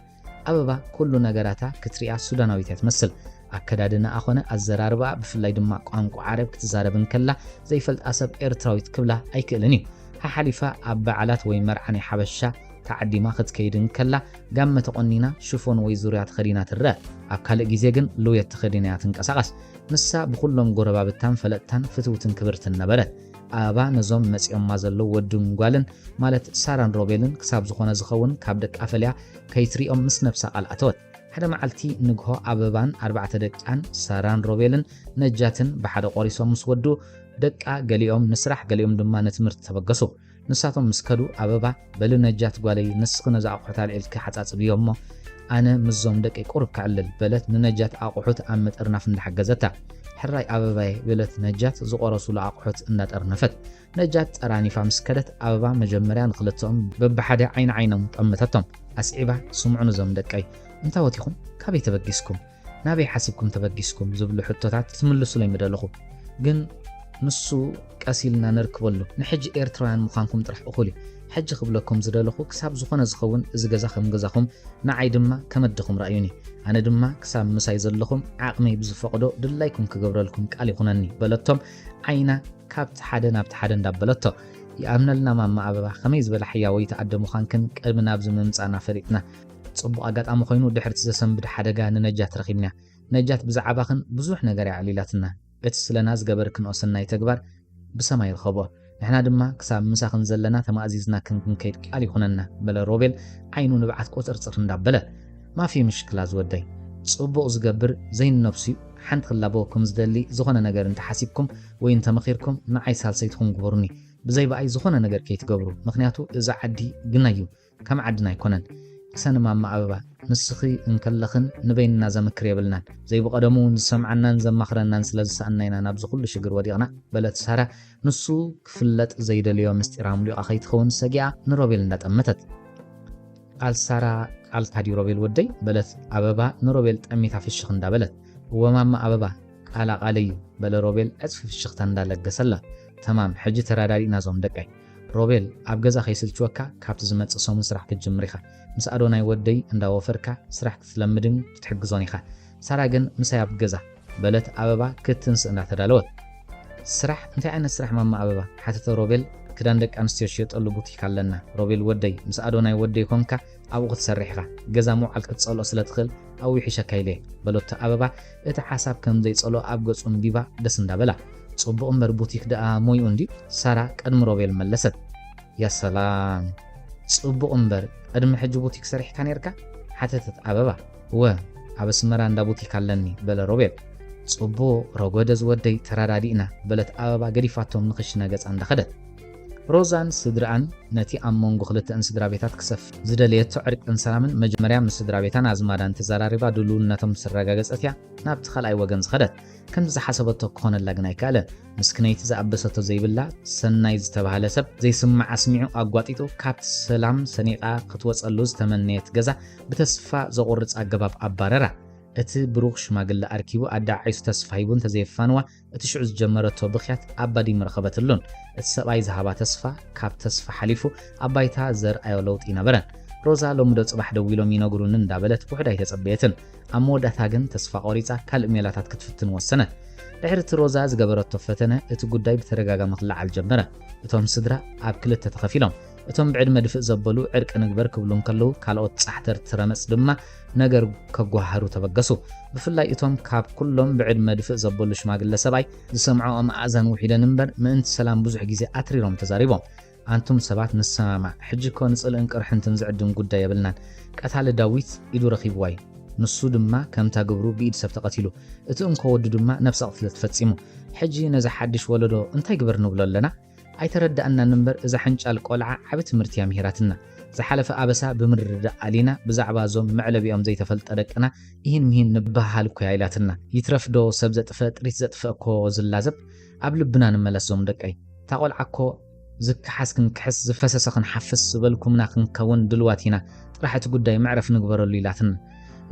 ኣበባ ኩሉ ነገራታ ክትሪኣ ሱዳናዊት እያ ትመስል። ኣከዳድናኣ ኮነ ኣዘራርባኣ ብፍላይ ድማ ቋንቋ ዓረብ ክትዛረብ እንከላ ዘይፈልጣ ሰብ ኤርትራዊት ክብላ ኣይክእልን እዩ። ሓሓሊፋ ኣብ በዓላት ወይ መርዓ ናይ ሓበሻ ተዓዲማ ክትከይድ እንከላ ጋመ ተቖኒና ሽፎን ወይ ዙርያ ተኸዲና ትረኣ። ኣብ ካልእ ግዜ ግን ልውየት ተኸዲና እያ ትንቀሳቐስ። ንሳ ብኹሎም ጎረባብታን ፈለጥታን ፍትውትን ክብርትን ነበረት። ኣበባ ነዞም መጺኦማ ዘለዉ ወድን ጓልን ማለት ሳራን ሮቤልን ክሳብ ዝኾነ ዝኸውን ካብ ደቃ ፈልያ ከይትሪኦም ምስ ነብሳ ቃል ኣተወት። ሓደ መዓልቲ ንግሆ ኣበባን ኣርባዕተ ደቃን ሳራን ሮቤልን ነጃትን ብሓደ ቆሪሶም ምስ ወድኡ፣ ደቃ ገሊኦም ንስራሕ ገሊኦም ድማ ንትምህርቲ ተበገሱ። ንሳቶም ምስ ከዱ ኣበባ፣ በሊ ነጃት ጓለይ ንስኺ ነዚ ኣቑሑት ኣልዒልኪ ሓጻጽብዮ እሞ ኣነ ምስዞም ደቀይ ቁሩብ ከዕልል፣ በለት ንነጃት ኣቑሑት ኣብ ምጥርናፍ እንዳሓገዘታ። ሕራይ ኣበባየ፣ በለት ነጃት ዝቖረሱሉ ኣቑሑት እንዳጠርነፈት። ነጃት ጠራኒፋ ምስ ከደት ኣበባ መጀመርያ ንኽልተኦም በብሓደ ዓይኒ ዓይኖም ጠመተቶም። ኣስዒባ ስምዑኒ እዞም ደቀይ፣ እንታዎት ኢኹም? ካበይ ተበጊስኩም? ናበይ ሓሲብኩም ተበጊስኩም ዝብሉ ሕቶታት ክትምልሱለይ ምደለኹ ግን ንሱ ቀስ ኢልና ነርክበሉ ንሕጂ ኤርትራውያን ምዃንኩም ጥራሕ እኹል እዩ ሕጂ ክብለኩም ዝደለኹ ክሳብ ዝኾነ ዝኸውን እዚ ገዛ ከም ገዛኹም ንዓይ ድማ ከም ኣደኹም ርኣዩኒ ኣነ ድማ ክሳብ ምሳይ ዘለኹም ዓቕመይ ብዝፈቕዶ ድላይኩም ክገብረልኩም ቃል ይኹነኒ በለቶም ዓይና ካብቲ ሓደ ናብቲ ሓደ እንዳበለቶ ይኣምነልና ማማ ኣበባ ከመይ ዝበለ ሕያወይቲ ኣደ ምዃንክን ቅድሚ ናብዚ ምምጻእና ፈሊጥና ጽቡቕ ኣጋጣሚ ኮይኑ ድሕሪ'ቲ ዘሰንብድ ሓደጋ ንነጃት ረኺብናያ። ነጃት ብዛዓባኽን ብዙሕ ነገር እያ ኣዕሊላትና። እቲ ስለና ዝገበርክንኦ ሰናይ ተግባር ብሰማይ ርኸቦ። ንሕና ድማ ክሳብ ምሳኽን ዘለና ተማእዚዝናክን ክንከይድ ቃል ይኹነና በለ ሮቤል ዓይኑ ንብዓት ቁጽርጽር እንዳበለ። ማፊ ምሽክላ ዝወደይ። ጽቡቕ ዝገብር ዘይንነብሱ'ዩ ሓንቲ ክላበወኩም ዝደሊ ዝኾነ ነገር እንተ ሓሲብኩም ወይ እንተ መኺርኩም ንዓይ ሳልሰይትኹም ግበሩኒ። ብዘይ ብኣይ ዝኾነ ነገር ከይትገብሩ ምኽንያቱ እዚ ዓዲ ግናይ'ዩ። ከም ዓድና ኣይኮነን ሰኒ ማማ ኣበባ ንስኺ እንከለኽን ንበይንና ዘምክር የብልናን ዘይብቀደሙ ውን ዝሰምዓናን ዘማኽረናን ስለ ዝሰኣና ኢና ናብዚ ኩሉ ሽግር ወዲቅና በለት ሳራ ንሱ ክፍለጥ ዘይደልዮ ምስጢር ኣምሊቃ ከይትኸውን ሰጊኣ ንሮቤል እንዳጠመተት ቃል ሳራ ቃልካ ድዩ ሮቤል ወደይ በለት ኣበባ ንሮቤል ጠሚታ ፍሽኽ እንዳበለት እወ ማማ ኣበባ ቃላ ቃለይ እዩ በለ ሮቤል ዕጽፊ ፍሽኽታ እንዳለገሰላ ተማም ሕጂ ተራዳዲእና ዞም ደቀይ ሮቤል ኣብ ገዛ ከይስልችወካ ካብቲ ዝመጽእ ሰሙን ስራሕ ክትጅምር ኢኻ። ምስ ኣዶናይ ወደይ እንዳ ወፈርካ ስራሕ ክትለምድን ክትሕግዞን ኢኻ። ሳራ ግን ምሳይ ኣብ ገዛ። በለት ኣበባ ክትንስእ እንዳ ተዳለወት። ስራሕ እንታይ ዓይነት ስራሕ ማማ ኣበባ? ሓተተ ሮቤል ክዳን ደቂ ኣንስትዮ ዝሽየጠሉ ቡቲክ ኣለና። ሮቤል ወደይ ምስ ኣዶናይ ወደይ ኮንካ ኣብኡ ክትሰርሕ ኢኻ፣ ገዛ ምውዓል ክትጸልኦ ስለ ትኽእል ኣብኡ ይሕሸካ ኢለ እየ፣ በሎቶ ኣበባ እቲ ሓሳብ ከም ዘይጸልኦ ኣብ ገጹ ኣንቢባ ደስ እንዳ በላ። ጽቡቕ እምበር ቡቲክ ደኣ ሞይኡ እንድዩ፣ ሳራ ቅድሚ ሮቤል መለሰት። ያ ሰላም! ጽቡቕ እምበር ቅድሚ ሕጂ ቡቲክ ሰሪሕካ ኔርካ? ሓተተት ኣበባ። እወ፣ ኣብ ኣስመራ እንዳ ቡቲክ ኣለኒ፣ በለ ሮቤል። ጽቡቕ፣ ረጎደ ዝወደይ፣ ተረዳዲእና፣ በለት ኣበባ ገዲፋቶም ንኽሽነ ገጻ እንዳ ከደት። ሮዛን ስድርኣን ነቲ ኣብ መንጎ ክልተእን ስድራቤታት ክሰፍን ዝደለየቶ ዕርቅን ሰላምን መጀመርያ ምስ ስድራቤታን ኣዝማዳን ተዛራሪባ ድሉውነቶም ምስ ኣረጋገጸት እያ ናብቲ ካልኣይ ወገን ዝኸደት። ከምቲ ዝሓሰበቶ ክኾነላ ግን ኣይከኣለን። ምስክነይቲ ዝኣበሰቶ ዘይብላ፣ ሰናይ ዝተባህለ ሰብ ዘይስማዕ ኣስሚዑ ኣጓጢጡ ካብቲ ሰላም ሰኒቓ ክትወጸሉ ዝተመነየት ገዛ ብተስፋ ዘቑርጽ ኣገባብ ኣባረራ። እቲ ብሩኽ ሽማግለ ኣርኪቡ ኣደዓዒሱ ተስፋ ሂቡ እንተዘየፋንዋ እቲ ሽዑ ዝጀመረቶ ብኽያት ኣባዲም ረኸበትሉን እቲ ሰብኣይ ዝሃባ ተስፋ ካብ ተስፋ ሓሊፉ ኣብ ባይታ ዘርኣዮ ለውጢ ኣይነበረን። ሮዛ ሎሚ ዶ ጽባሕ ደዊሎም ይነግሩኒ እንዳበለት ውሑድ ኣይተጸበየትን። ኣብ መወዳእታ ግን ተስፋ ቆሪጻ ካልእ ሜላታት ክትፍትን ወሰነት። ድሕሪ እቲ ሮዛ ዝገበረቶ ፈተነ እቲ ጉዳይ ብተደጋጋሚ ክለዓል ጀመረ። እቶም ስድራ ኣብ ክልተ ተኸፊሎም እቶም ብዕድመ ድፍእ ዘበሉ ዕርቂ ንግበር ክብሉ እንከለዉ ካልኦት ጻሕተርቲ ረመጽ ድማ ነገር ከጓሃሩ ተበገሱ። ብፍላይ እቶም ካብ ኩሎም ብዕድመ ድፍእ ዘበሉ ሽማግለ ሰብኣይ ዝሰምዕኦም ኣእዛን ውሒደን እምበር ምእንቲ ሰላም ብዙሕ ግዜ ኣትሪሮም ተዛሪቦም። ኣንቱም ሰባት ንሰማማዕ፣ ሕጂ እኮ ንጽልእን ቅርሕንትን ዝዕድም ጉዳይ የብልናን። ቀታሊ ዳዊት ኢዱ ረኺብዋ እዩ። ንሱ ድማ ከምታ ግብሩ ብኢድ ሰብ ተቐቲሉ። እቲ እንኮ ወዱ ድማ ነብሰ ቅትለት ፈጺሙ። ሕጂ ነዚ ሓድሽ ወለዶ እንታይ ግበር ንብሎ ኣለና? ኣይተረዳኣናን እምበር እዛ ሕንጫል ቆልዓ ዓቢ ትምህርቲ እያ ምሂራትና ዝሓለፈ ኣበሳ ብምርድዳእ ኣሊና ብዛዕባ እዞም መዕለቢኦም ዘይተፈልጠ ደቅና ኢሂን ምሂን ንበሃሃል እኮ እያ ኢላትና ይትረፍ ዶ ሰብ ዘጥፈእ ጥሪት ዘጥፈእ እኮ ዝላዘብ ኣብ ልብና ንመለስ ዞም ደቀይ እታ ቆልዓ እኮ ዝከሓስ ክንክሕስ ዝፈሰሰ ክንሓፍስ ዝበልኩምና ክንከውን ድልዋት ኢና ጥራሕ እቲ ጉዳይ መዕረፍ ንግበረሉ ኢላትና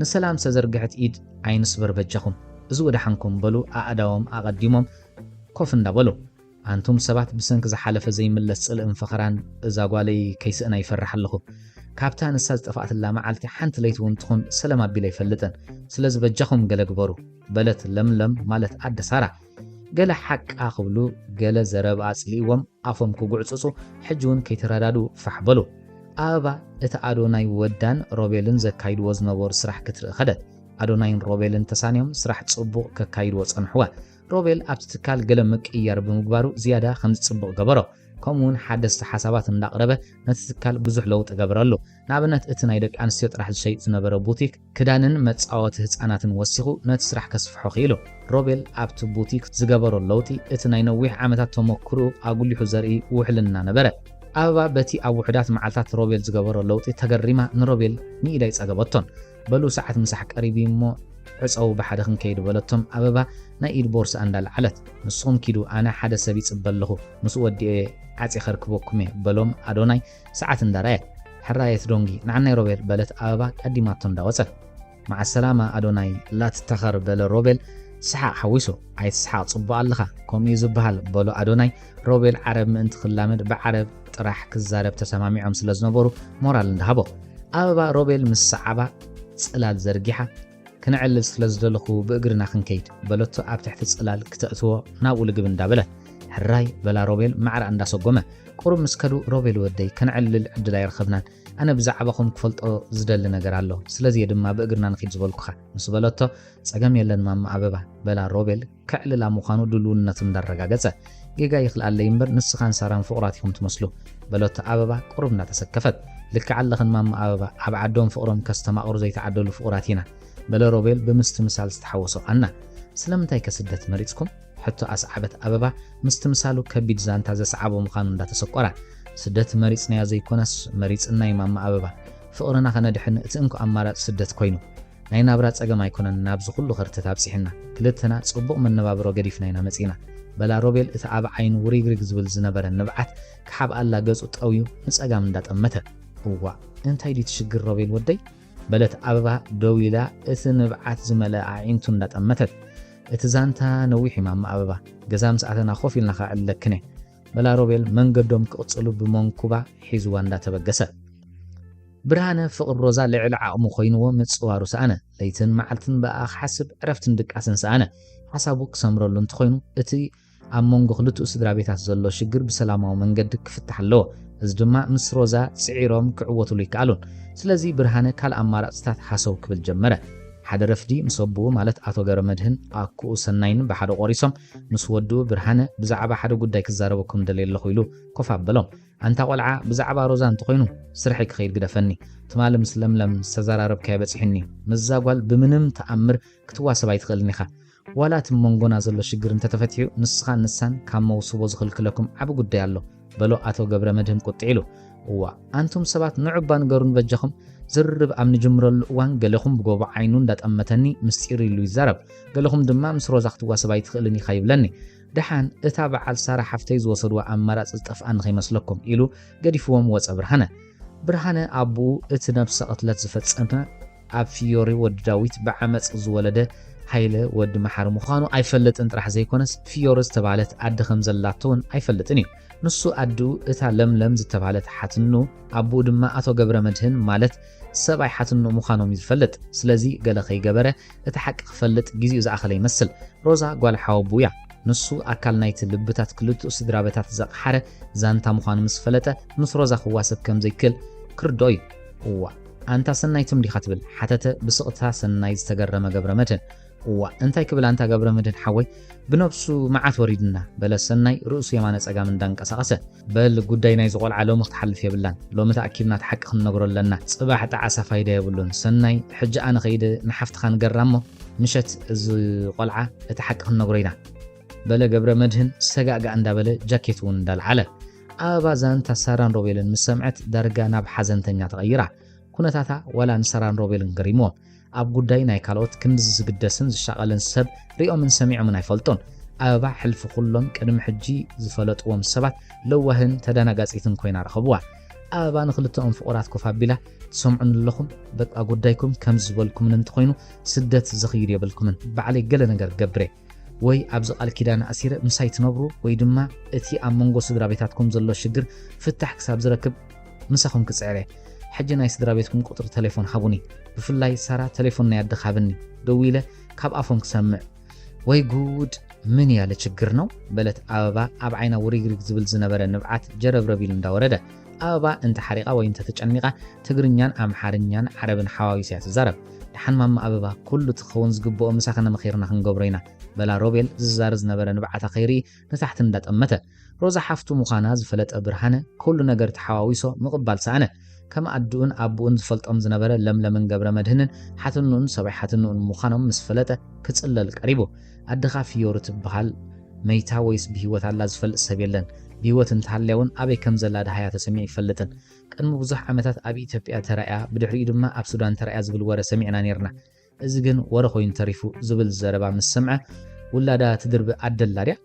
ንሰላም ዝተዘርግሐት ኢድ ኣይንስበር በጃኹም እዚ ወደሓንኩም በሉ ኣእዳዎም ኣቐዲሞም ኮፍ እንዳበሉ ኣንቱም ሰባት ብሰንኪ ዝሓለፈ ዘይምለስ ጽልእን ፈኸራን እዛ ጓለይ ከይስእና ይፈርሕ ኣለኹ። ካብታ ንሳ ዝጠፋኣትላ መዓልቲ ሓንቲ ለይቲ ውን ትኹን ሰለም ኣቢለ ኣይፈልጥን። ስለዚ በጃኹም ገለ ግበሩ። በለት ለምለም ማለት ኣደ ሳራ። ገለ ሓቃ ክብሉ ገለ ዘረብኣ ጽሊእዎም ኣፎም ክጉዕጽጹ ሕጂ ውን ከይተረዳድኡ ፋሕ በሉ። ኣበባ እቲ ኣዶናይ ወዳን ሮቤልን ዘካይድዎ ዝነበሩ ስራሕ ክትርኢ ከደት። ኣዶናይን ሮቤልን ተሳንዮም ስራሕ ጽቡቕ ከካይድዎ ጸንሑዋ። ሮቤል ኣብቲ ትካል ገለ ምቅይያር ብምግባሩ ዝያዳ ከምዚ ጽቡቕ ገበሮ። ከምኡ'ውን ሓደስቲ ሓሳባት እንዳቕረበ ነቲ ትካል ብዙሕ ለውጢ ገበረሉ። ንኣብነት እቲ ናይ ደቂ ኣንስትዮ ጥራሕ ዝሸይጥ ዝነበረ ቡቲክ ክዳንን መጻወቲ ህጻናትን ወሲኹ ነቲ ስራሕ ከስፍሖ ክኢሉ። ሮቤል ኣብቲ ቡቲክ ዝገበሮ ለውጢ እቲ ናይ ነዊሕ ዓመታት ተመኩርኡ ኣጉሊሑ ዘርኢ ውሕልና ነበረ። ኣበባ በቲ ኣብ ውሑዳት መዓልታት ሮቤል ዝገበሮ ለውጢ ተገሪማ ንሮቤል ንኢዳይ ጸገበቶን። በሉ ሰዓት ምሳሕ ቀሪቡ'ዩ እሞ ዕጸዉ ብሓደ ክንከይድ በለቶም ኣበባ ናይ ኢድ ቦርስኣ እንዳልዓለት። ንስኹም ኪዱ ኣነ ሓደ ሰብ ይጽበ ኣለኹ ምስኡ ወዲኤ ዓጽየ ከርክበኩም'የ በሎም ኣዶናይ ሰዓት እንዳርኣየ። ሕራይ ኣይትዶንጊ ንዓናይ ሮቤል በለት ኣበባ ቀዲማቶ እንዳወጸት። መዓ ሰላማ ኣዶናይ ላትታኸር በለ ሮቤል ሰሓቕ ሓዊሱ። ኣይትስሓቕ ጽቡቕ ኣለኻ ከምኡ'ዩ ዝበሃል በሎ ኣዶናይ። ሮቤል ዓረብ ምእንቲ ክላመድ ብዓረብ ጥራሕ ክዛረብ ተሰማሚዖም ስለ ዝነበሩ ሞራል እንዳሃቦ ኣበባ ሮቤል ምስ ሰዓባ ጽላል ዘርጊሓ ክንዕልል ስለ ዝደለኹ ብእግርና ክንከይድ በለቶ ኣብ ትሕቲ ጽላል ክተእትዎ ናብኡ ልግብ እንዳበለ ሕራይ በላ ሮቤል ማዕራ እንዳሰጎመ ቁሩብ ምስ ከዱ ሮቤል ወደይ ከነዕልል ዕድል ኣይረኸብናን ኣነ ብዛዕባኹም ክፈልጦ ዝደሊ ነገር ኣሎ ስለዚ ድማ ብእግርና ንኺድ ዝበልኩኻ ምስ በለቶ ጸገም የለን ማማ ኣበባ በላ ሮቤል ከዕልላ ምዃኑ ድሉውነቱ እንዳረጋገጸ፣ ጌጋ ይኽልኣለይ እምበር ንስኻን ሳራን ፍቑራት ኢኹም ትመስሉ። በሎቶ ኣበባ ቁሩብ እንዳተሰከፈት። ልክዕ ኣለኽን ማማ ኣበባ፣ ኣብ ዓዶም ፍቕሮም ከስተማቕሩ ዘይተዓደሉ ፍቑራት ኢና። በለ ሮቤል ብምስትምሳል ዝተሓወሶ ኣና። ስለምንታይከ ስደት መሪጽኩም? ሕቶ ኣስዓበት ኣበባ ምስትምሳሉ ከቢድ ዛንታ ዘስዓቦ ምዃኑ እንዳተሰቆራ። ስደት መሪጽናዮ ዘይኮነስ መሪጽና'ዩ ማማ ኣበባ። ፍቕርና ከነድሕን እቲ እንኮ ኣማራጺ ስደት ኮይኑ። ናይ ናብራ ጸገም ኣይኮነን ናብዚ ኩሉ ከርተት ኣብጺሕና። ክልተና ጽቡቕ መነባብሮ ገዲፍና ኢና መጺእና። በላ ሮቤል እቲ ኣብ ዓይኑ ውሪግሪግ ዝብል ዝነበረ ንብዓት ክሓብኣላ ገጹ ጠውዩ ንጸጋም እንዳጠመተ። እዋእ እንታይ ድዩ እቲ ሽግር ሮቤል ወደይ? በለት ኣበባ ደው ኢላ እቲ ንብዓት ዝመልኣ ኣዒንቱ እንዳጠመተት። እቲ ዛንታ ነዊሕ እዩ ማማ ኣበባ። ገዛ ምስ ኣተና ኮፍ ኢልና ከዕልለክን እየ። መላ ሮቤል መንገዶም ክቕጽሉ ብመንኩባ ሒዝዋ እንዳተበገሰ። ብርሃነ ፍቕሪ ሮዛ ልዕሊ ዓቕሙ ኮይንዎ ምጽዋሩ ሰኣነ። ለይትን መዓልትን ብኣኣ ክሓስብ ዕረፍትን ድቃስን ሰኣነ። ሓሳቡ ክሰምረሉ እንተኾይኑ እቲ ኣብ መንጎ ክልትኡ ስድራቤታት ዘሎ ሽግር ብሰላማዊ መንገዲ ክፍታሕ ኣለዎ። እዚ ድማ ምስ ሮዛ ጽዒሮም ክዕወትሉ ኣይከኣሉን። ስለዚ ብርሃነ ካልእ ኣማራጽታት ሃሰው ክብል ጀመረ። ሓደ ረፍዲ ምስ ኣቡኡ ማለት ኣቶ ገብረመድህን ኣኩኡ ሰናይን ብሓደ ቆሪሶም ምስ ወዱ ብርሃነ ብዛዕባ ሓደ ጉዳይ ክዛረበኩም ደልየ ኣለኹ ኢሉ ኮፍ ኣበሎም። ኣንታ ቆልዓ ብዛዕባ ሮዛ እንተኾይኑ ስርሐይ ክኸይድ ግደፈኒ። ትማሊ ምስ ለምለም ዝተዘራረብካዮ በጺሑኒ። ምስዛ ጓል ብምንም ተኣምር ክትዋሰብ ኣይትኽእልን ኢኻ። ዋላ እቲ ሞንጎና ዘሎ ሽግር እንተተፈቲሑ ንስኻን ንሳን ካብ መውስቦ ዝኽልክለኩም ዓቢ ጉዳይ ኣሎ። በሎ ኣቶ ገብረመድህን ቁጥዕ ኢሉ። እዋእ ኣንቱም ሰባት ንዑባ ንገሩኒ በጃኹም። ዝርርብ ኣብ ንጅምረሉ እዋን ገለኹም ብጎቦ ዓይኑ እንዳጠመተኒ ምስጢር ኢሉ ይዛረብ፣ ገለኹም ድማ ምስ ሮዛ ክትዋሰብ ኣይትኽእልን ኢኻ ይብለኒ። ደሓን እታ በዓል ሳራ ሓፍተይ ዝወሰድዋ ኣማራጺ ዝጠፍኣ ንኸይመስለኩም ኢሉ ገዲፍዎም ወጸ ብርሃነ። ብርሃነ ኣቡኡ እቲ ነብሰ ቅትለት ዝፈጸመ ኣብ ፍዮሪ ወዲ ዳዊት ብዓመጽ ዝወለደ ሃይለ ወዲ መሓሪ ምዃኑ ኣይፈልጥን ጥራሕ ዘይኮነስ ፍዮሪ ዝተባህለት ኣደ ከም ዘላቶ'ውን ኣይፈልጥን እዩ። ንሱ ኣድኡ እታ ለምለም ዝተባህለት ሓትኑ ኣቡኡ ድማ ኣቶ ገብረመድህን ማለት ሰብኣይ ሓትኑ ምዃኖም እዩ ዝፈልጥ። ስለዚ ገለ ከይገበረ እቲ ሓቂ ክፈልጥ ግዜኡ ዝኣኸለ ይመስል። ሮዛ ጓል ሓወቡኡ እያ። ንሱ ኣካል ናይቲ ልብታት ክልቲኡ ስድራበታት ዘቕሓረ ዛንታ ምዃኑ ምስ ፈለጠ ምስ ሮዛ ክዋሰብ ከም ዘይክእል ክርድኦ እዩ። እዋእ! ኣንታ ሰናይ ትም ዲኻ ትብል? ሓተተ ብስቕታ ሰናይ ዝተገረመ ገብረመድህን። እዋእ እንታይ ክብል ኣንታ ገብረመድህን ሓወይ፣ ብነብሱ መዓት ወሪድና፣ በለ ሰናይ ርእሱ የማነ ጸጋም እንዳንቀሳቐሰ። በል ጉዳይ ናይዚ ቆልዓ ሎሚ ክትሓልፍ የብላን፣ ሎሚ ተኣኪብና እቲ ሓቂ ክንነግሮ ኣለና፣ ጽባሕ ጣዕሳ ፋይዳ የብሉን፣ ሰናይ ሕጂ ኣነ ከይደ ንሓፍትኻ ንገራ እሞ ምሸት እዚ ቆልዓ እቲ ሓቂ ክንነግሮ ኢና፣ በለ ገብረመድህን ሰጋእጋእ እንዳበለ ጃኬቱ እውን እንዳልዓለ። ኣበባ ዛንታ ሳራን ሮቤልን ምስ ሰምዐት ዳርጋ ናብ ሓዘንተኛ ተቐይራ። ኩነታታ ዋላ ንሳራን ሮቤልን ገሪምዎም። ኣብ ጉዳይ ናይ ካልኦት ክንድዚ ዝግደስን ዝሻቐልን ሰብ ሪኦምን ሰሚዖምን ኣይፈልጡን። ኣበባ ሕልፊ ኩሎም ቅድሚ ሕጂ ዝፈለጥዎም ሰባት ለዋህን ተዳናጋጺትን ኮይና ረኸብዋ። ኣበባ ንኽልተኦም ፍቑራት ኮፍ ኣቢላ፣ ትሰምዑኒ ኣለኹም? በቃ ጉዳይኩም ከምዚ ዝበልኩምኒ እንተኾይኑ ስደት ዘኽይድ የብልኩምን። ባዕለይ ገለ ነገር ገብር'የ። ወይ ኣብዚ ቃል ኪዳን ኣእሲረ ምሳይ ትነብሩ ወይ ድማ እቲ ኣብ መንጎ ስድራቤታትኩም ዘሎ ሽግር ፍታሕ ክሳብ ዝረክብ ምሳኹም ክጽዕር እየ። ሕጂ ናይ ስድራቤትኩም ቁጽሪ ተሌፎን ሃቡኒ ብፍላይ ሳራ ተሌፎን ናይ ኣደኺ ሃብኒ ደዊለ ካብ ኣፎም ክሰምዕ። ወይ ጉድ ምን ያለ ችግር ነው በለት ኣበባ ኣብ ዓይና ውሪግሪግ ዝብል ዝነበረ ንብዓት ጀረብረብ ኢሉ እንዳወረደ። ኣበባ እንተ ሓሪቓ ወይ እንተ ተጨኒቓ ትግርኛን ኣምሓርኛን ዓረብን ሓዋዊሳ እያ ትዛረብ። ደሓን ማማ ኣበባ ኩሉ እቲ ክኸውን ዝግብኦ ምሳኺ ነመኺርና ክንገብሮ ኢና በላ ሮቤል ዝዛረ ዝነበረ ንብዓታ ከይርኢ ንታሕቲ እንዳ ጠመተ። ሮዛ ሓፍቱ ምዃና ዝፈለጠ ብርሃነ ኩሉ ነገር ተሓዋዊሶ ምቕባል ሰኣነ። ከም ኣድኡን ኣቡኡን ዝፈልጦም ዝነበረ ለምለምን ገብረመድህንን ሓትንኡን ሰብኣይ ሓትንኡን ምዃኖም ምስ ፈለጠ ክጽለል ቀሪቡ። ኣደኻ ፍዮሪ ትብሃል መይታ ወይስ ብሂወት ኣላ ዝፈልጥ ሰብ የለን ብሂወት እንተሃልያ ውን ኣበይ ከምዘላ ደሃያ ተሰሚዑ ኣይፈልጥን ቅድሚ ብዙሕ ዓመታት ኣብ ኢትዮጵያ ተራእያ ብድሕሪኡ ድማ ኣብ ሱዳን ተራእያ ዝብል ወረ ሰሚዕና ኔርና እዚ ግን ወረ ኮይኑ ተሪፉ ዝብል ዘረባ ምስ ሰምዐ ውላዳ ትድርቢ ኣደ ኣላ ድያ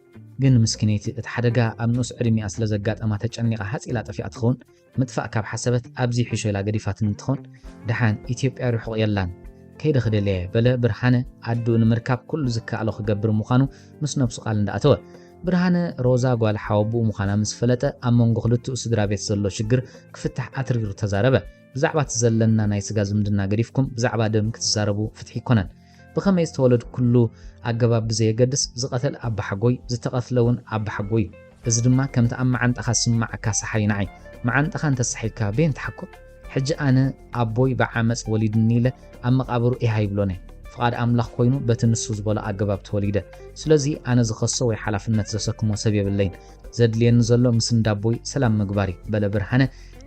ግን ምስኪነይቲ እቲ ሓደጋ ኣብ ንኡስ ዕድሚኣ ስለዘጋጠማ ተጨኒቓ ሃጽ ኢላ ጠፊኣ ትኸውን ምጥፋእ ካብ ሓሰበት ኣብዚ ይሕሾ ኢላ ገዲፋትኒ እንትኾን ደሓን ኢትዮጵያ ርሑቕ የላን ከይደ ክደልያየ በለ ብርሃነ ኣድኡ ንምርካብ ኩሉ ዝከኣሎ ክገብር ምዃኑ ምስ ነብሱ ቃል እንዳኣተወ ብርሃነ ሮዛ ጓል ሓወብኡ ምዃና ምስ ፈለጠ ኣብ መንጎ ክልትኡ ስድራ ቤት ዘሎ ሽግር ክፍታሕ ኣትሪሩ ተዛረበ ብዛዕባ እቲ ዘለና ናይ ስጋ ዝምድና ገዲፍኩም ብዛዕባ ደም ክትዛረቡ ፍትሒ ኣይኮነን ብኸመይ ዝተወለድኩሉ ኣገባብ ብዘየገድስ ዝቐተል ኣባሓጎይ ዝተቐትለ ውን ኣባሓጎይ ዩ። እዚ ድማ ከምቲ ኣብ መዓንጣኻ ዝስመዓካ ሰሓይ ንዓይ መዓንጣኻ እንተሰሒግካ በየን ትሓኩር? ሕጂ ኣነ ኣቦይ ብዓመጽ ወሊድኒ ኢለ ኣብ መቓብሩ ኢህ ኣይብሎን እየ። ፍቓድ ኣምላኽ ኮይኑ በቲ ንሱ ዝበሎ ኣገባብ ተወሊደ። ስለዚ ኣነ ዝኸሶ ወይ ሓላፍነት ዘሰክሞ ሰብ የብለይን። ዘድልየኒ ዘሎ ምስ እንዳቦይ ሰላም ምግባር ዩ በለ ብርሃነ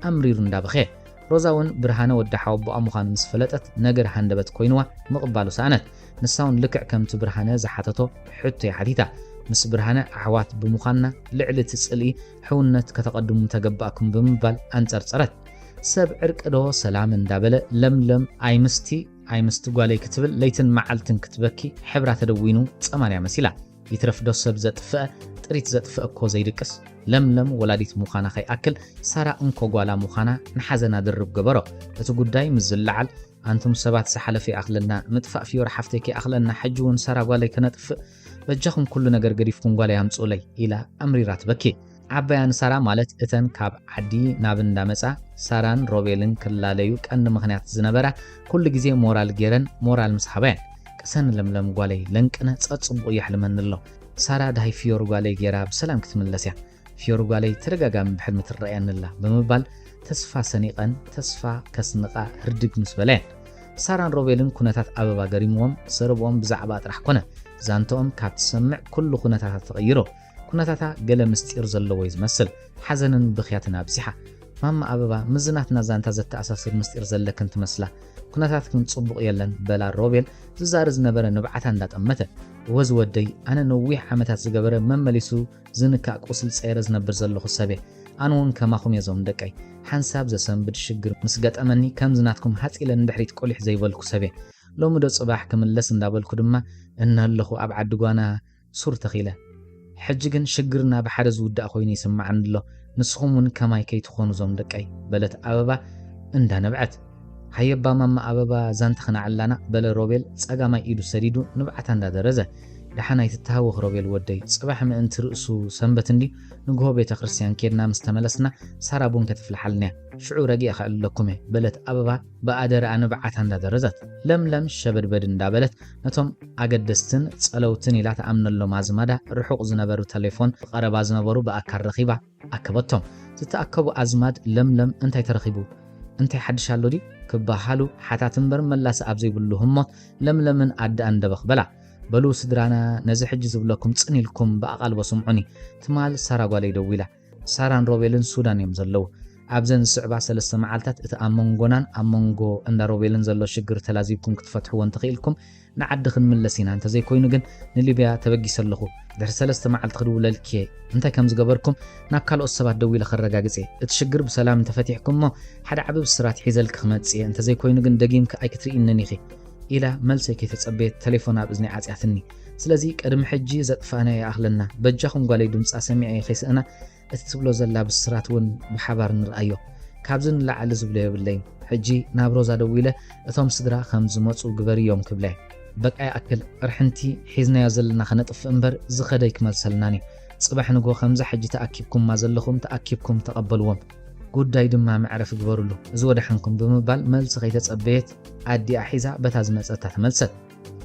ኣምሪሩ እንዳበኸየ። ሮዛ ውን ብርሃነ ወዲ ሓወቦኣ ምዃኑ ምስ ፈለጠት ነገር ሃንደበት ኮይንዋ ምቕባሉ ሰኣነት። ንሳ ውን ልክዕ ከምቲ ብርሃነ ዝሓተቶ ሕቶ እያ ሓቲታ። ምስ ብርሃነ ኣሕዋት ብምዃንና ልዕሊ እቲ ጽልኢ ሕውነት ከተቐድሙ ምተገባእኩም ብምባል ኣንጸርጸረት። ሰብ ዕርቂ ዶ ሰላም እንዳ በለ ለምለም ኣይምስቲ ኣይምስቲ ጓለይ ክትብል ለይትን መዓልትን ክትበኪ ሕብራ ተደዊኑ ጸማንያ መሲላ። ይትረፍ ዶ ሰብ ዘጥፍኣ ጥሪት ዘጥፍኣ እኮ ዘይድቅስ ለምለም ወላዲት ሙኻና ከይኣክል ሳራ እንኮ ጓላ ሙኻና ንሓዘና ድርብ ገበሮ እቲ ጉዳይ ምስ ዝለዓል ኣንቱም ሰባት ዝሓለፈ ይኣኽለና ምጥፋእ ፍዮሪ ሓፍተይ ከይኣኽለና ሕጂ ውን ሳራ ጓለይ ከነጥፍእ በጃኹም ኩሉ ነገር ገዲፍኩም ጓለይ ኣምጽኡለይ ኢላ ኣምሪራ ትበኪ ዓባያን ሳራ ማለት እተን ካብ ዓዲ ናብ እንዳመጻ ሳራን ሮቤልን ክላለዩ ቀንዲ ምክንያት ዝነበራ ኩሉ ግዜ ሞራል ጌረን ሞራል ምስ ሃባ እየን። ቅሰኒ ለምለም ጓለይ ለንቅነ ጸጽቡቁ የሕልመኒ ኣሎ ሳራ ድሃይ ፍዮሪ ጓለይ ጌራ ብሰላም ክትምለስ እያ ፍዮሪ ጓለይ ተደጋጋሚ ብሕልሚ ትረኣየኒ ኣላ ብምባል ተስፋ ሰኒቀን ተስፋ ከስንቃ ህርድግ ምስ በላ እየን ሳራን ሮቤልን ኩነታት ኣበባ ገሪምዎም ዘረብኦም ብዛዕባ ጥራሕ ኮነ ዛንተኦም ካብ ትሰምዕ ኩሉ ኩነታታት ተቐይሮ ኩነታታ ገለ ምስጢር ዘለዎ'ዩ ዝመስል። ሓዘንን ብኽያትን ኣብዚሓ። ማማ ኣበባ፣ ምስዚ ናትና ዛንታ ዘተኣሳስር ምስጢር ዘለክን ትመስላ። ኩነታትክን ጽቡቕ የለን፣ በላ ሮቤል ዝዛሪ ዝነበረ ንብዓታ እንዳጠመተ። እወ ዝወደይ፣ ኣነ ነዊሕ ዓመታት ዝገበረ መመሊሱ ዝንካእ ቁስሊ ጸይረ ዝነብር ዘለኹ ሰብ'የ። ኣነ'ውን ከማኹም'የ እዞም ደቀይ። ሓንሳብ ዘሰንብድ ሽግር ምስ ገጠመኒ ከምዚ ናትኩም ሃጽ ኢለ ንድሕሪት ቁሊሕ ዘይበልኩ ሰብ'የ። ሎሚ'ዶ ጽባሕ ክምለስ እንዳበልኩ ድማ እነሀለኹ ኣብ ዓዲ ጓና። ሱር ተኺለ ሕጂ ግን ሽግርና ብሓደ ዝውዳእ ኮይኑ ይስማዓኒ ኣሎ ንስኹም ውን ከማይ ከይትኾኑ ዞም ደቀይ በለት ኣበባ እንዳ ነብዐት። ሃየባ ማማ ኣበባ ዛንት ክናዕላና በለ ሮቤል ጸጋማይ ኢዱ ሰዲዱ ንብዓታ እንዳ ደረዘ። ደሓን ኣይትተሃወኽ ሮቤል ወደይ ጽባሕ ምእንቲ ርእሱ ሰንበት እንድዩ ንግሆ ቤተ ክርስትያን ኬድና ምስ ተመለስና ሳራ ቡን ከተፍልሓልና እያ ሽዑ ረጊኣ ከዕልለኩም እየ በለት ኣበባ ብኣደረኣ ንብዓታ እንዳ ደረዘት። ለምለም ሸበድበድ እንዳ በለት ነቶም ኣገደስትን ጸለውትን ኢላ ትኣምነሎም ኣዝማዳ ርሑቕ ዝነበሩ ተሌፎን ብቐረባ ዝነበሩ ብኣካል ረኺባ ኣከበቶም። ዝተኣከቡ ኣዝማድ ለምለም እንታይ ተረኺቡ? እንታይ ሓድሽ ኣሎ ድዩ? ክበሃሉ ሓታት እምበር መላሲ ኣብ ዘይብሉ ህሞት ለምለምን ኣደኣን ደበኽ በላ። በሉ ስድራና ነዚ ሕጂ ዝብለኩም ጽን ኢልኩም ብኣቓልቦ ስምዑኒ። ትማል ሳራ ጓለይ ደዊላ። ሳራን ሮቤልን ሱዳን እዮም ዘለዉ። ኣብዘን ዝስዕባ ሰለስተ መዓልታት እቲ ኣብ መንጎናን ኣብ መንጎ እንዳ ሮቤልን ዘሎ ሽግር ተላዚብኩም ክትፈትሕዎ እንተኺኢልኩም ንዓዲ ክንምለስ ኢና እንተዘይኮይኑ ግን ንሊብያ ተበጊሰ ኣለኹ ድሕሪ ሰለስተ መዓልቲ ክድውለልኪ እየ እንታይ ከም ዝገበርኩም ናብ ካልኦት ሰባት ደዊለ ከረጋግጽ እየ እቲ ሽግር ብሰላም እንተፈቲሕኩም እሞ ሓደ ዓቢ ብስራት ሒዘልኪ ክመጽእ እየ እንተዘይኮይኑ ግን ደጊምኪ ኣይክትርኢንን ኢኺ ኢላ መልሰይ ከይተጸበየት ተሌፎና ኣብ እዝነይ ዓጽያትኒ ስለዚ ቅድሚ ሕጂ ዘጥፋእናዮ ይኣኽለና በጃኹም ጓለይ ድምጻ ሰሚዐ ከይስእና እቲ ትብሎ ዘላ ብስራት ውን ብሓባር ንርኣዮ ካብዚ ንላዕሊ ዝብሎ የብለይን ሕጂ ናብ ሮዛ ደዊለ እቶም ስድራ ከም ዝመጹ ግበርዮም ክብለ በቃ ይኣክል ቅርሕንቲ ሒዝናዮ ዘለና ከነጥፍእ እምበር ዝኸደ ኣይክመልሰልናን እዩ ጽባሕ ንግሆ ከምዛ ሕጂ ተኣኪብኩማ ዘለኹም ተኣኪብኩም ተቐበልዎም ጉዳይ ድማ መዕረፊ ግበርሉ እዚ ወደሓንኩም ብምባል መልሲ ከይተጸበየት ኣዲኣ ሒዛ በታ ዝመጸታ ተመልሰት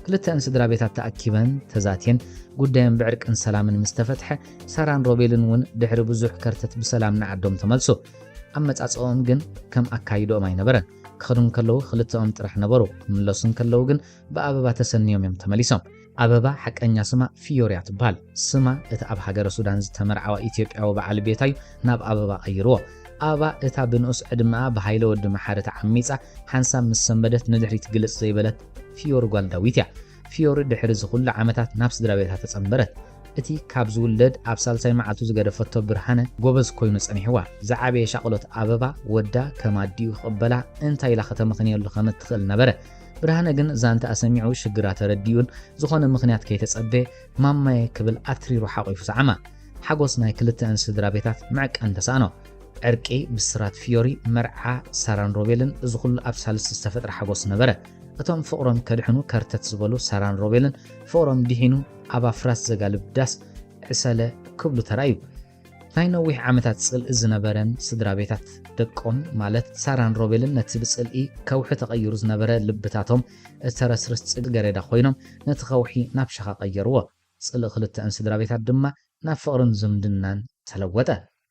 ክልተኣን ስድራቤታት ተኣኪበን ተዛትየን ጉዳየን ብዕርቅን ሰላምን ምስ ተፈትሐ ሳራን ሮቤልን እውን ድሕሪ ብዙሕ ከርተት ብሰላም ንዓዶም ተመልሱ። ኣመጻጽኦም ግን ከም ኣካይድኦም ኣይነበረን። ክኸዱ እንከለዉ ክልተኦም ጥራሕ ነበሩ፣ ክምለሱ እንከለዉ ግን ብኣበባ ተሰንዮም እዮም ተመሊሶም። ኣበባ ሓቀኛ ስማ ፊዮርያ ትበሃል። ስማ እቲ ኣብ ሃገረ ሱዳን ዝተመርዓወ ኢትዮጵያዊ በዓል ቤታ እዩ ናብ ኣበባ ቀይርዎ። ኣበባ እታ ብንኡስ ዕድመኣ ብሃይለ ወዲ መሓሪ ተዓሚጻ ሓንሳብ ምስ ሰንበደት ንድሕሪት ግልጽ ዘይበለት ፍዮሪ ጓል ዳዊት እያ። ፍዮሪ ድሕሪ እዚ ኹሉ ዓመታት ናብ ስድራቤታ ተጸንበረት። እቲ ካብ ዝውለድ ኣብ ሳልሳይ መዓልቱ ዝገደፈቶ ብርሃነ ጎበዝ ኮይኑ ጸኒሕዋ። ዝዓበየ ሻቕሎት ኣበባ፣ ወዳ ከም ኣዲኡ ክቕበላ እንታይ ኢላ ከተመኽንየሉ ከም እትኽእል ነበረ። ብርሃነ ግን ዛንትኣ ሰሚዑ ሽግራ ተረዲኡን ዝኾነ ምኽንያት ከይተጸበየ ማማየ ክብል ኣትሪሩ ሓቚፉ ሰዓማ። ሓጎስ ናይ ክልተኣን ስድራቤታት ምዕቀን ተሳእኖ። ዕርቂ፣ ብስራት ፍዮሪ፣ መርዓ ሳራን ሮቤልን፣ እዚ ኩሉ ኣብ ሳልስቲ ዝተፈጥረ ሓጎስ ነበረ። እቶም ፍቕሮም ከድሕኑ ከርተት ዝበሉ ሳራን ሮቤልን፣ ፍቕሮም ድሒኑ ኣብ ኣፍራስ ዘጋልብ ዳስ ዕሰለ ክብሉ ተራእዩ። ናይ ነዊሕ ዓመታት ጽልኢ ዝነበረን ስድራቤታት ደቆም ማለት ሳራን ሮቤልን ነቲ ብጽልኢ ከውሒ ተቐይሩ ዝነበረ ልብታቶም እተረስርስ ጽገሬዳ ኮይኖም ነቲ ከውሒ ናብ ሸኻ ቀየርዎ። ጽልኢ ክልተኣን ስድራቤታት ድማ ናብ ፍቕርን ዝምድናን ተለወጠ።